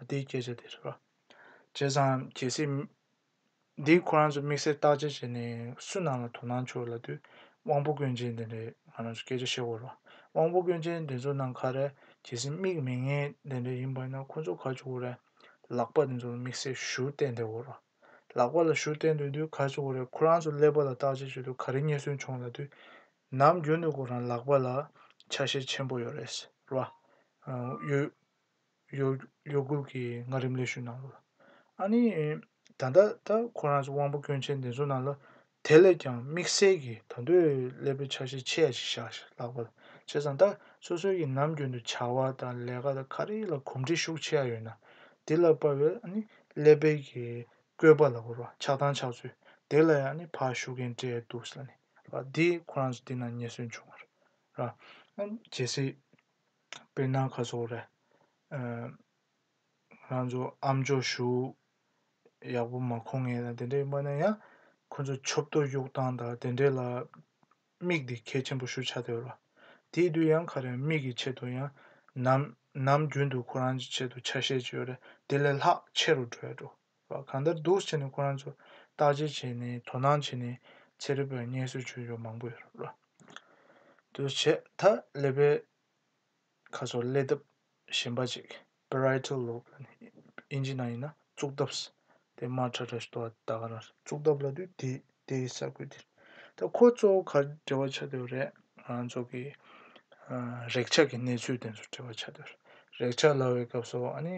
Speaker 1: དེའི་སྐད་ཆ་དེ་རེད་རོ། བྱས་ཙང་གལ་སྲིད། འདིའི་ཁོ་རང་ཚོ་དམིགས་བསལ་བརྟག་དཔྱད་བྱས་ནས་སུ་ནང་ལ་དོ་སྣང་ཆོག་ལ་དུས་དབང་པོ་དཀོན་ཅན་དེ་འདྲས་ང་རང་ཚོ་སྐད་ཆ་བཤད་གོ་རོགས་དབང་པོ་དཀོན་ཅན་དེ་ཚོ་ནང་ཁ་རེ་གལ་སྲིད་དམིགས་མི་ངན་དེ་འདྲས་ཡིན་པ་ཡིན་ན་ཁོ་ཚོ་ཁ་ཆུ་བོ་རེ་ལག་པ་དེ་ཚོ་ལ་དམིགས་བསལ་ཞུ་བསྟན་བསྡད་གོ་རོགས་ལག་པ་ལ་ཞུ་བསྟན་འདོད་དུས་ཁ་ཆུ་བོ་རེ་ཁོ་རང་ཚོ་ཀླད་པ་ལ་བརྟག་དཔྱད་བྱེད་དུས་ཁ་རེ་རྙེད་སོན་བྱུང་ལ་དུས་ནམ་རྒྱུན་དུ་ཁོ་རང་ལག་པ་ལ་ཆ་ཤས་ཆེན་པོ་ཡོད་རེད་ཟེར་བ་ཡོད། ཡོད་དགུ་གི་ངག་རིམ་ལས་ཞུས་གནང་ལོ། ཨཱ་ནི། ད་ལྟ་ད་ཁོ་རང་ཚོ་དབང་པོ་སྐྱོན་ཅན་འདི་ཚོ་རྣམས་ལ་དེ་ལས་ཀྱང་དམིགས་བསལ་གྱི་ད་འདོད་ཀླད་པའི་ཆ་ཤས་ཆེ་ཡ་ཞིག་བཞག་ལགས་པ་བྱས་ཙང་ད་སོ་སོའི་གྱི་ནམ་རྒྱུན་དུ་བྱ་བ་དང་ལས་ཀ་དང་ག་རེ་ལ་གོམས་འདྲིས་ཤུགས་ཆེ་ཡ་ཡོད་ན་དེ་ལ་དཔའ་བའི་ཨཱ་ནི་ཀླད་པའི་གྱི་བཀོད་པ་ལ་བོར་བ་ཆགས་སྡང་ཆགས་ཚུལ་དེ་ལ་ཡང་ཨཱ་ནི་ཕར་ཞུ་མཁན་བཀྲས་འདུག་ལ་ནི་ལ་འདི་ཁོ་རང་ཚོ་འདི་ན་ཉེ་སོན་བྱུང་བར་ར་རྗེ་སི། དཔེར་ན་ཁ་སོགས་རེད། རང་ཚོ་ཨ་མཆོག་བཞུགས་ཡག་པོ་མ་མཁོ་ངེས་ལ་དེ་འདྲའི་སྨྲ་ན་ཡང་ཁོ་ཚོ་མཆོད་བསྟོད་གཡུག་སྟངས་དང་དེ་འདྲའི་ལ་དམིགས་འདི་གལ་ཆེན་པོ་ཞུ་ཆ་དེ་རོ། དེའི་དུས་ཡང་ཁ་རེ་མིག་གི་ཆེད་དུ་ཡང་ནམ་ནམ་རྒྱུན་དུ་ཁོ་རང་གི་ཆེད་དུ་ཆ་ཤས་ཅིག་ཡོད་རེད་དེ་ལས་ལྷག་ཆེ་རུ་འགྲོ་ཡག་འགྲོ། བ་གང་ལྟར་སྡུག་བསྔལ་ནི་ཁོ་རང་ཚོ་བརྟག་དཔྱད་བྱས་ནས་དོ་སྣང་བྱས་ནས་ཚེ་རིལ་བའི་བསྙེན་གསོལ་ཆོས་འབྱོར་མང་པོ་ཡོད་རབ་ལ། དུ་བྱས་མཐའ་ཀླས་པའི་ཁ་སོགས་ཀླས་སྟབས་གཞན་པ་ཅིག Parietal Lobe ལ་ནི་དབྱིན་ཇི་ནང་ཡིན་ན་གཙུག་སྟབས། དེ་མར་ཁྲ་ཁྲ་ཞིག་ལྟོ་བ་ད་ག་རང་རེད། གཙུག་སྟབས་ལ་དུས་དེ་དེ་ཡི་ས་ཁུལ་དེར། ད་ཁོ་གཙོ་བོ་གར་འབྲེལ་བ་བྱ་འདོད་རེད། རང་ཚོ་གི། རེག་བྱ་གི་གནས་ཚུལ་དེ་ཚོ་འབྲེལ་བ་བྱ་འདོད་རེད། རེག་བྱ་ལ་བའི་སྐབས་སུ་ཨ་ནི།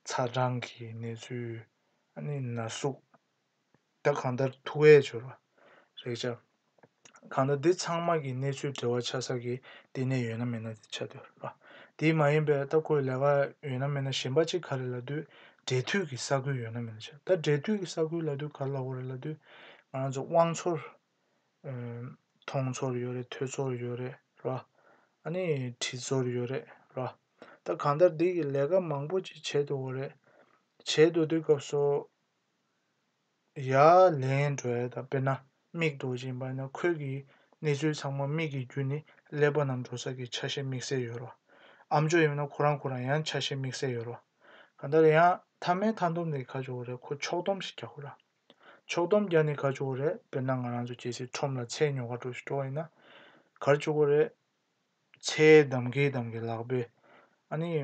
Speaker 1: ཚ་གྲང་གི་གནས་ཚུལ། ཨ་ནི་ན་ཟུག། ད་གང་ལྟར་ཐུ་བས་བྱོས་པ། རེག་བྱ། གང་ལྟར་འདི་ཚང་མ་གི་གནས་ཚུལ་འབྲེལ་བ་ཆགས་ས་གི་ལྟེ་གནས་ཡོད་ན་མེད་ན་དེ་ཆགས་འདུག་པ་དེ་མ་ཡིན་པའི་ལྟ་སྐོར་ལས་ཀ་ཡོད་ན་མེད་ན་གཞན་པ་གཅིག་ག་རེ་ལ་དུས་འབྲེལ་མཐུད་གི་ས་ཁུལ་ཡོད་ན་མེད་ན་ཆགས་ད་འབྲེལ་མཐུད་གི་ས་ཁུལ་ལ་དུས་ག་རེ་ལ་ཁོར་རེ་ལ་དུས་ང་རང་ཚོ་དབང་ཚོར་མཐོང་ཚོར་ཡོད་རེད་ཐོས་ཚོར་ཡོད་རེད་ར་ཨ་ནི་དྲིས་ཚོར་ཡོད་རེད་ར་ད་གང་ལྟར་འདི་གི་ལས་ཀ་མང་པོ་ཅིག་བྱེད་འདུག་གོ་རེད་བྱེད་འདུག་དུས་སྐབས་སོ། ཡ། ལན། གྲོལ། དཔེར་ན་མིག་རྡོ་རྗེ་འབར་ན་ཁོལ་གྱི་གནས་ཚུལ་ཚང་མ་མིག་གི་རྒྱུ་ནི་ཀླད་པ་རྣམས་འགྲོ་ས་ཀྱི་ཆ་ཤས་དམིགས་བསལ་ཡོད་རོ། ཨམ་ཅོག་ཡིན་ན་ཁོ་རང་ཁོ་རང་ཡང་ཆ་ཤས་དམིགས་བསལ་ཡོད་རོ། གང་ལྟར་ཡང་ཐ་མའི་མཐའ་འདོམས་ནི་ག་ཅུ་བོ་རེད་ཁོ་ཕྱོགས་སྡོམ་ཞིག་རྒྱག་གོ་ར། ཕྱོགས་སྡོམ་རྒྱག་ནི་ག་ཅུ་བོ་རེད་དཔེར་ན་ང་རང་ཚོ་སྐྱེ་སའི་ཁྲོམ་ལ་ཚྭའི་ཉོ་ག་འགྲོ་ཞིག་འགྲོ་བ་ཡིན་ན། གར་བཅུག་གོ་རེད། ཚྭའི་འདམ་གའི་འདམ་གའི་ལག་པས། ཨ་ནི།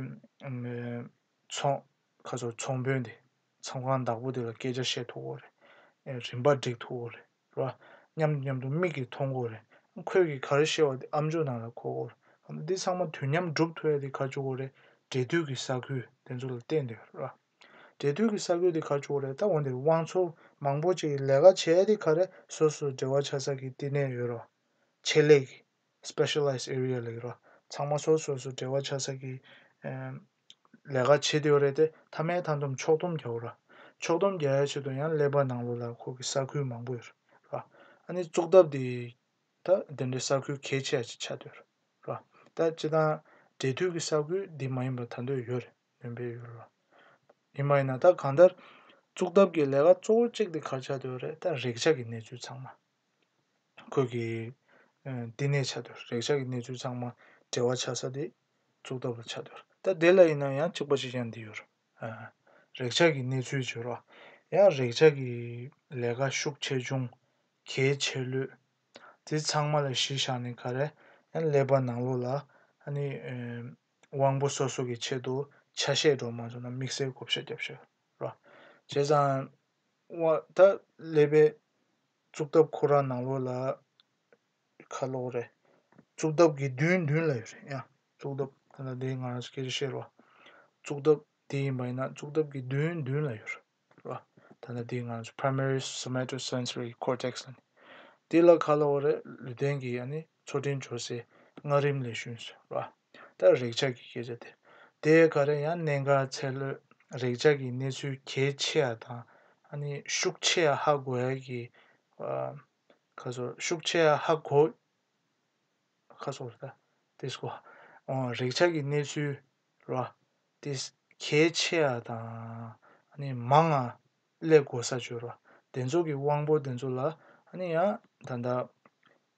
Speaker 1: མཚོངས། ཁ་སོར་ཚོང་དཔོན་དེ། མཚམས་ཁང་བདག་པོ་དེ་ལ་སྐད་ཆ་བཤད་ཐུབ་གོ་རེད། རིམ་པ་བསྒྲིགས་ཐུབ་གོ་རེད། མཉམ་དུ་མཉམ་དུ་མིག་གིས་མཐོང་གོ་རེད། ཁོས་གིས་ག་རེ་ཤེས་པ་དེ་ཨ་མཆོག་ནང་ལ་གོ་གོ་རེད། འདི་ཚང་མ་དུས་མཉམ་བསྒྲུབ་ཐུབ་ཡ་དེ་ག་བཅུག་གོ་རེད། འབྲེལ་མཐུད་ཀྱི་ས་ཁུལ་དེ་ཚོ་ལ་བལྟས་འདོད་རེད། འབྲེལ་མཐུད་ཀྱི་ས་ཁུལ་དེ་ག་བཅུག་གོ་རེད་ད་འོན་ཏེ་དབང་ཚོགས་མང་པོ་ཅིག་གིས་ལས་ཀ་བྱས་ཡ་དེ་ག་རེད་སོ་སོས་འབྲེལ་བ་ཆགས་ས་ཀྱི་བསྟི་གནས་ཡོད་རོགས། ཆེད་ལས་ཀྱིས། Specialized Area། ལས་ཀ་ཚང་མ་སོ་སོས་སུ་འབྲེལ་བ་ཆགས་ས་ཀྱི། ལས་ཀ་བྱེད་འདོད་རེད་དེ་མཐའ་མའི་མཐའ་འདོམས་ཕྱོགས་སྡོམ་རྒྱག་ར། ཕྱོགས་སྡོམ་རྒྱག་ཡའི་ཆེད་དུ་ཡང་ཀླད་པ་ནང་ལོགས་ལ་ཁོག་གི་ས་ཁུལ་མང་པོ་ཡོད་རེད། ཨ་ནི་བཙོག་ཐབས་དེ་ད་དེ་འདྲའི་ས་ཁུལ་གལ་ཆེ་བ་ཅིག་ཆགས་འདོད་རེད། ད་སྤྱི་དང་འབྲེལ་མཐུད་ཀྱི་ས་ཁུལ་འདི་མ་ཡིན་པ་ད་འདོད་ཡོད་རེད་འདོན་པའི་ཡོད་རེད། ཡིན་མ་ཡིན་ན་ད་གང་ལྟར། བཙོག་ཐབས་ཀྱི་ལས་ཀ་གཙོ་བོ་གཅིག་དེ་གར་ཆགས་འདོད་རེད་ད་རེག་བྱ་ཀྱི་གནས་ཚུལ་ཚང་མ། ཁོས་ཀྱིས། བསྟི་གནས་བྱ་འདོད། རེག་བྱ་གི་གནས་ཚུལ་ཚང་མ་འབྲེལ་བ་ཆགས་ས་དེ་གཙུག་ཏོར་བ་ཆགས་འདོད། ད་དེ་ལ་ཡིན་ན་ཡང་གཅིག་པ་ཞིག་ཀྱང་འདི་ཡོད། རེག་བྱ་གི་གནས་ཚུལ་བརྗོད་རོགས། ཡང་རེག་བྱ་གི་ལས་ཀ་ཤུགས་ཆེ་ཆུང། གལ་ཆེ་ལོས། དེ་ཚང་མ་ལ་གཞི་བཞག་ནས་ག་རེ་ཡང་ཀླད་པ་ནང་ལོགས་ལ། ཨ་ནི། དབང་པོ་སོ་སོ་གི་ཆེད་དུ་ཆ་ཤས་སྒྲོག་མ་བྱུང་ན་དམིགས་བསལ་བགོ་བཤའ་རྒྱབ་ཤོག་རོགས། བྱས་ཙང། བ་དག་ལས་པའི་གཙུག་ཐབས་ཁོ་རང་ནང་ལོགས་ལ་ཁ་ལོག་རེད། གཙུག་ཐབས་དགེ་འདུན་མདུན་ལ་ཡོད་རེད་ཡ། གཙུག་ཐབས་ཁོ་ན་དེ་ང་རང་སྐད་ཆ་བཤད་རོགས། གཙུག་ཐབས་དེ་ཡིན་པ་ཡིན་ན་གཙུག་ཐབས་དགེ་འདུན་མདུན་ལ་ཡོད་རེད། ད་ལྟ་དེ་ང་རང་ཚོ Primary Somatosensory Cortex ལ་ནི། དེ་ལ་ཁ་ལོག་རེད་ལུས་རྟེན་གྱི་ཡ་ནི་ཚོ་དྲིན་འབྱོར་སའི་སྔགས་རིམ་ལས་ཞུན་ཟེར་རོགས། ལྟར་རེག་བྱ་གི་སྐད་ཆ་དེ་དེ་ག་རེ་ཡང་གནད་འགག་ཚད་ལོས་རེག་བྱ་གི་གནས་ཚུལ་གལ་ཆེ་ཡ་དང་ཨ་ནི་ཤུགས་ཆེ་ཡ་ཧ་གོ་ཡ་གི་ཁ་སོར་ཤུགས་ཆེ་ཡ་ཧ་གོ་ཁ་སོར་ལྟ་དེས་གོ་རེག་བྱ་གི་གནས་ཚུལ་ལོ་དེ་གལ་ཆེ་ཡ་དང་ཨ་ནི་མང་ང་ལས་གོ་ས་བཅོལ་བ་དེ་ཚོ་གི་དབང་པོ་དེ་ཚོ་ལ་ཨ་ནི་ཡང་ད་ལྟ་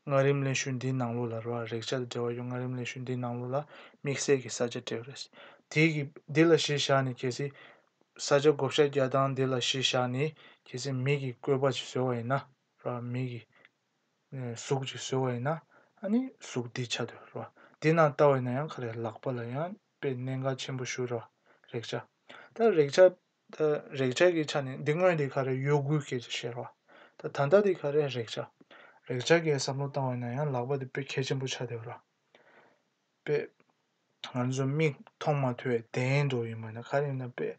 Speaker 1: ངག་རིམ་ལས་ཞུ་འདིའི་ནང་ལོགས་ལ་རོ་ཨ་རེག་བྱ་དང་འབྲེལ་བ་ཡོད་ངག་རིམ་ལས་ཞུ་འདིའི་ནང་ལོགས་ལ་དམིགས་བསལ་གྱི་ས་ཆ་སྤྲད་རེས། དེ་གི་འདི་ལ་གཞི་བཞག་ནས་གལ་སྲིད། ས་ཆ་བགོ་བཤའ་རྒྱག་སྟངས་འདི་ལ་གཞི་བཞག་ནས་གལ་སྲིད་མིག་གི་བཀོད་པ་ཅིག་བཟོས་བ་ཡིན་ན་རོ་ཨ་མིག་གི། གཟུགས་ཅིག་བཟོས་བ་ཡིན་ན་ཨ་ནི་གཟུགས་འདི་ཆ་དོ་རོ་ཨ་འདི་ནང་ལྟ་བ་ཡིན་ན་ཡང་ཁ་རེ་ལག་པ་ལ་ཡང་དཔེ་གནད་འགག་ཆེན་པོ་ཞུ་རོ་ཨ་རེག་བྱ། ད་རེག་བྱ་ད་རེག་བྱ་གི་ཆ་ནི་འདི་དངོས་འདི་ག་རེ་གཡོ་སྒུལ་གྱི་ཤེར་བ། ད་ད་ལྟ་འདི་ག་རེ་རེག་བྱ། རེག་བྱ་གི་བསམ་བློ་བཏང་བས་ན་ཡང་ལག་པ་འདི་དཔེ་ཁྱད་ཆེན་པོ་ཆགས་བསྡད་པ་ར། དཔེ། ང་ཚོ་མིག་མཐོང་མ་ཐུབ་བས་དེའི་འགྲོ་ཡིན་པ་ན་ག་རེ་ཡིན་ན་དཔེ།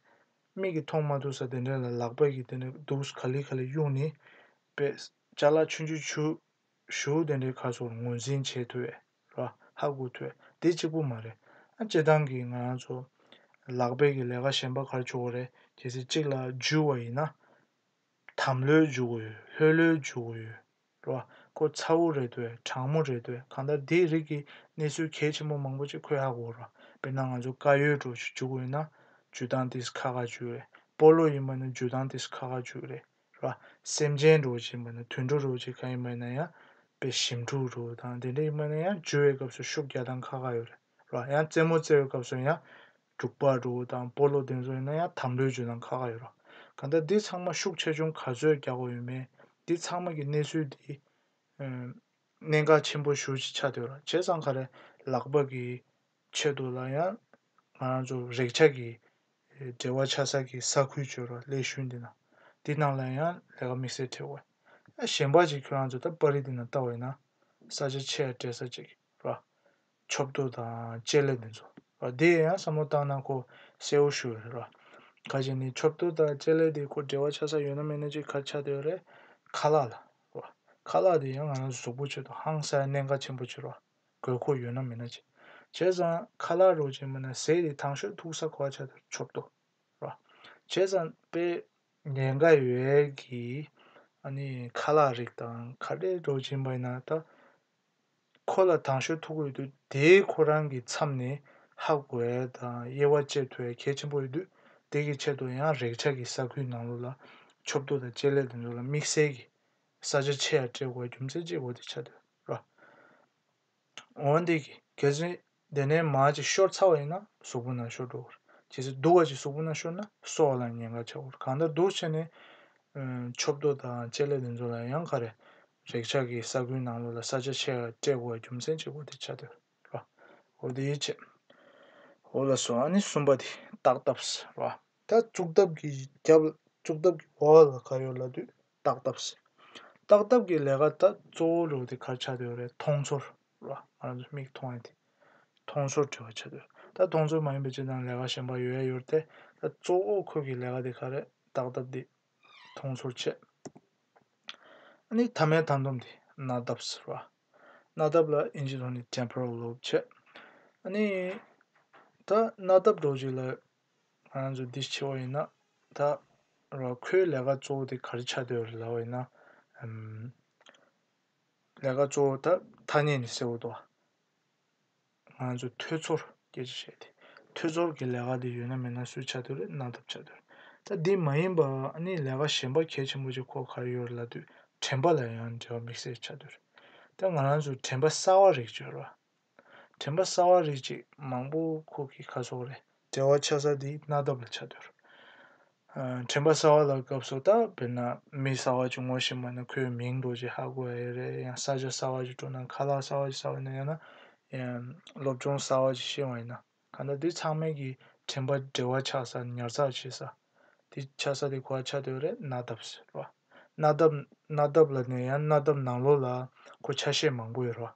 Speaker 1: མིག་གིས་མཐོང་མ་ཐུབ་ས་དེ་འདྲ་ལ་ལག་པ་གིས་དེ་འདྲ་འདུག་ག་ལི་ག་ལི་གཡུག་ནི། དཔེ། ལྕགས་ལ་ཆུ་འཇུ་ཆུ། ཞུགས་དེ་འདྲའི་ཁ་སོགས་ངོས་འཛིན་བྱེད་ཐུབ་བས། ལ། ཧ་གོ་ཐོས། དེ་གཅིག་པོ་མ་རེད། སྤྱི་བཏང་གི་ང་རང་ཚོ། ལག་སྦེད་ཀྱི་ལས་ཀ་གཞན་པ་གར་བྱུག་གོ་རེད། གལ་སྲིད་གཅིག་ལ་འཇུས་བ་ཡིན་ན། དམ་ལྷོད་འཇུག་གོ་ཡོད་ལྷོད་ལྷོད་འཇུག་གོ་ཡོད། ལ། ཁོ་ཚ་བོ་རེད་དོས་དྲང་མོ་རེད་དོས་གང་ལྟར་དེའི་རིགས་ཀྱི་གནས་ཚུལ་གལ་ཆེན་པོ་མང་པོ་ཅིག་ཁོས་ཧ་གོ་རོགས། དཔེར་ན་ང་ཚོ་དཀར་ཡོལ་འགྲོ་ཞིག་འཇུག་གོ་ཡིན་ན། འཇུས་སྟངས་དེས་ཁ་ཁ་འཇུས་རེད། སྤོ་ལོ་ཡིན་པ་ནི་འཇུས་སྟངས་དེས་ཁ་ཁ་འཇུས་རེད། ར། སེམས་ཅན་དྲུག་ཅེས་སྨོས་ན་དུད་འགྲོ་དྲུག་ཅེས་གང་ཡིན་སྨོས་ན་ཡང་དཔེ་ཞིམ་དྲུག་དྲུག་དང་དེ་འདྲ་ཡིན་སྨོས་ན་ཡང་རྒྱུ་བའི་སྐབས་སུ་ཤུགས་བརྒྱ་དང་ཁ་ཁ་ཡོད་རེད་ར། ཡང་རྩེད་མོ་རྩེ་བའི་སྐབས་སུ་ཡང་དྲུག་པ་དྲུག་དང་སྤོ་ལོ་དེ་ཚོ་ཡིན་ན་ཡང་དམ་ལོའི་རྒྱུ་དང་ཁ་ཁ་ཡོད་ར། གང་ལྟར་འདི་ཚང་མ་ཤུགས་ཆེ་ཆུང་ག་ཚོད་རྒྱག་དགོས་ཡོད་མེད་འདི་ཚང་མ་གི་གནས་ཚུལ་འདིས། གནད་འགག་ཆེན་པོ་ཞུ་ཆེ་ཆགས་དུས་ར་བྱས་ཙང་ག་རེ་ལག་པ་གིས་ཆེད་དུ་ལ་ཡང་ང་རང་ཚོ་རེག་བྱ་གི་འབྲེལ་བ་ཆགས་ས་གི་ས་ཁུལ་བྱོལ་བ་ཀླད་ཤུལ་འདི་ན་འདི་རྣམས་ལ་ཡང་ལས་ཀ་དམིགས་བསལ་བྲལ་བ་ཨ་གཞན་པ་ཅིག་ཁྱོད་རང་ཚོ་ད་པར་རི་འདི་ན་ལྟ་བ་ཡིན་ན་ས་ཆ་ཆེ་ཡ་བྲལ་ས་ཅིག་ར་ཆོབ་རྡོ་དང་ལྕེ་ལེ་འདི་ཚོ་ར་འདི་ཡང་བསམ་བློ་བཏང་ན་ཁོ་གསལ་བོ་ཞུ་རེད་ར་ཁ་ཅིག་ནི་ཆོབ་རྡོ་དང་ལྕེ་ལེ་འདི་ཁོ་འབྲེལ་བ་ཆགས་ས་ཡོད་ན་མེད་ན་ཅིག་ག་ཆགས་འདོད་རེད་ཁ་ལག་ལ་ར་ཁ་ལག་འདི་ཡང་ང་རང་ཚོ་ཟུག་པོ་བྱེད་དུ་ཧང་སའི་གནད་འགག་ཆེན་པོ་ཆེ་ར། དགོས་མཁོ་ཡོད་ན་མེད་ན་བྱས་ཙང་ཁ་ལག་རོགས་ཅན་མིན་ན་ཟས་རིགས་ཐང་ཤོས་ཐུག་ས་གོ་བ་ཆགས་ཐུབ་ཆོག་ཏོ་ར། བྱས་ཙང་དཔེ། ཉེན་ཁ་ཡོད་གི། ཨ་ནི་ཁ་ལག་རིགས་དང་ཁ་བྲལ་རོགས་ཅན་པ་ཡིན་ན་ད། ཁོ་ལ་ཐང་ཤོས་ཐུག་གི་ཡོད་དུས་དེའི་ཁོ་རང་གི་མཚམས་ནས་ཧ་གོ་བའི་དང་དབྱེ་བ་བཅད་ཐུབ་བའི་གལ་ཆེན་པོ་ཡོད་དུས་དེ་གི་ཆེད་དུ་ཡང་རེག་བྱ་གི་ས་ཁུལ་ནང་ལོགས་ལ་ཆོབ་ཏུ་དང་བཅད་ལས་དེ་ཚོ་ལ་དམིགས་བསལ་གི་ས་ཆ་ཆེ་ཡང་སྤྲད་དགོས་པ་རྒྱུ་མཚན་གཅིག་འོ་དེ་ཆགས་དུས། རོ། འོན་ཏེ་གལ་སྲིད་དེ་ནས་མ་ཅིག་ཤོར་ཚར་བ་ཡིན་ན་གཟུགས་པོ་ན་ཤོར་འགྲོ་བར། ཇི་སྲིད་སྡུག་བ་ཅིག་གཟུགས་པོ་ན་ཤོར་ན་གསོ་བ་ལ་ཉེན་ཁ་ཆགས་བར་གང་ལྟར་སྡུག་ཆེ་ནས། མཆོད་བསྟོད་དང་བཅས་ལས་དེ་ཚོ་ལ་ཡང་ཁ་རས་རེག་ཆགས་ཀྱི་ས་ཁུལ་ནང་ལོགས་ལ་ས་ཆ་ཆེ་བ་སྤྲད་དགོས་བར་རྒྱུ་མཚན་གཅིག་པོ་དེ་ཆགས་ཐུབ་ར་བ་དེའི་ཆེད། འོ་ལ་སོ་ཨ་ནི་གསུམ་པ་དེ་བརྟག་ཐབས་ར་བ། ད་བཙུགས་ཐབས་ཀྱི་རྒྱབ་བཙུགས་ཐབས་ཀྱི་བར་ལ་ཁ་ཡོད་ལ་དུས། སྟག་སྟབས། སྟག་སྟབས་ཀྱི་ལས་ཀ་ད་གཙོ་བོ་ལུགས་དེ་གར་བྱ་འདོད་པ་རེད་མཐོང་ཚོར་ར་ང་རང་ཚོ་མིག་མཐོང་ཡ་དེ་མཐོང་ཚོར་བྲི་བ་བྱ་འདོད་ད་མཐོང་ཚོར་མ་ཡིན་པའི་སྤྱི་དང་ལས་ཀ་གཞན་པ་ཡོད་ཡ་ཡོད་རེད་ད་གཙོ་བོ་ཁོས་ཀྱི་ལས་ཀ་དེ་ག་རེད་སྟག་སྟབས་འདི་མཐོང་ཚོར་བྱས། ཨ་ནི་ཐ་མའི་ཐ་འདོམས་འདི་སྣ་སྟབས་ར་སྣ་སྟབས་ལ་ཨིན་ཇི་ཐོག་ནས Temporal Lobe བྱས། ཨ་ནི་ད་སྣ་སྟབས་འགྲོ་བྱེད་ལ་ང་ཚོ་འདི་བྱེད་པ་ཡིན་ན་ད་ར་ཁོའི་ལས་ཀ་གཙོ་བོ་དེ་ག་རེ་ཆགས་སྡོད་ལབ་པ་ཡིན་ན། ལས་ཀ་གཙོ་བོ་ད་ཐ་སྙད་ནས་སེལ་དགོས་དོ། ང་ཚོ་ཐོས་ཚོར་སྐད་ཆ་བཤད་དེ་ཐོས་ཚོར་གྱི་ལས་ཀ་དེ་ཡོད་ན་མེད་ན་སུས་ཆགས་སྡོད་རེད་གནང་ཐབས་ཆགས་སྡོད་རེད། ད་འདི་མ་ཡིན་པ་ནི་ལས་ཀ་གཞན་པ་གལ་ཆེན་པོ་ཅིག་ཁོ་གར་ཡོད་རེད་ལབ་དུས་དྲན་པ་ལ་ཡང་འབྲེལ་བ་དམིགས་བསལ་ཆགས་སྡོད་རེད། ད་ང་རང་ཚོ་དྲན་པ་གསར་བ་རེག་བྱོས་རོགས། དྲན་པ་གསར་བ་རེ་གཅིག་མང་པོ་ཁོག་གི་ཁ་ཟོག་རེད། བྲེལ་བ་ཆགས་ས་དེ་སྣ་འདབ་ལ་ཆགས་དུས། དྲན་པ་གསར་བ་ལ་སྐབས་སུ་ད་བེར་ན་མི་གསར་བ་ཅིག་ངོ་ཤེས་མ་ན་ཁོའི་མིང་འབྲོ་རྗེས་ཧ་གོ་ཨེ་རེད་ཡང་ས་ཆ་གསར་བ་ཅིག་སྤྲོ་ན་ཁ་ལག་གསར་བ་ཅིག་ཟ་བ་ཡིན་ན་ཡང་ན་སློབ་སྦྱོང་གསར་བ་ཅིག་ཤེས་བ་ཡིན་ན་གང་ལྟར་དེ་ཚང་མའི་གི་དྲན་པ་བྲེལ་བ་ཆགས་ས་ཉར་ཚགས་བྱེད་ས་དེ་ཆགས་ས་དེ་ཁོ་ཨ་ཆགས་དུས་རེད་སྣ་འདབ་ཟེར་བ། སྣ་འདབ་སྣ་འདབ་ལ་ནས་ཡང་སྣ་འདབ་ནང་ལོགས་ལ་ཁོ་ཆ་ཤས་མང་པོ་ཡོད་རེད་བ།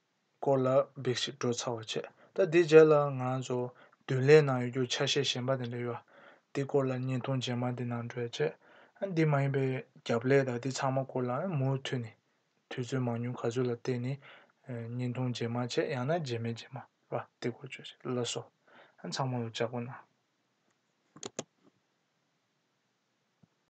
Speaker 1: སྐོར་ལ་འབིགས་ཤིག་བགྲོ་ཚར་བ་བྱས། ད་འདི་རྗེས་ལ་ང་ཚོ་བདུན་ལས་ནང་ཡོད་རྒྱུ་ཆ་ཤས་གཞན་པ་དེ་འདྲ་ཡོད། འདི་སྐོར་ལ་བརྙན་ཐུང་རྗེས་མ་འདི་ནང་བགྲོས་རྗེས། འདི་མ་ཡིན་པའི་རྒྱབ་ལས་དང་འདི་ཚང་མ་སྐོར་ལ་མུ་མཐུད་ནས། དུས་ཚོད་མང་ཉུང་ག་ཚོད་ལ་བལྟས་ནས། བརྙན་ཐུང་རྗེས་མ་བྱས་ཡང་ན་རྗེས་མའི་རྗེས་མ། ར་དེ་སྐོར་བརྗོད་བྱས་ལ་སོགས། ཚང་མ་ལོ་བརྒྱ་སྐོར་ནང།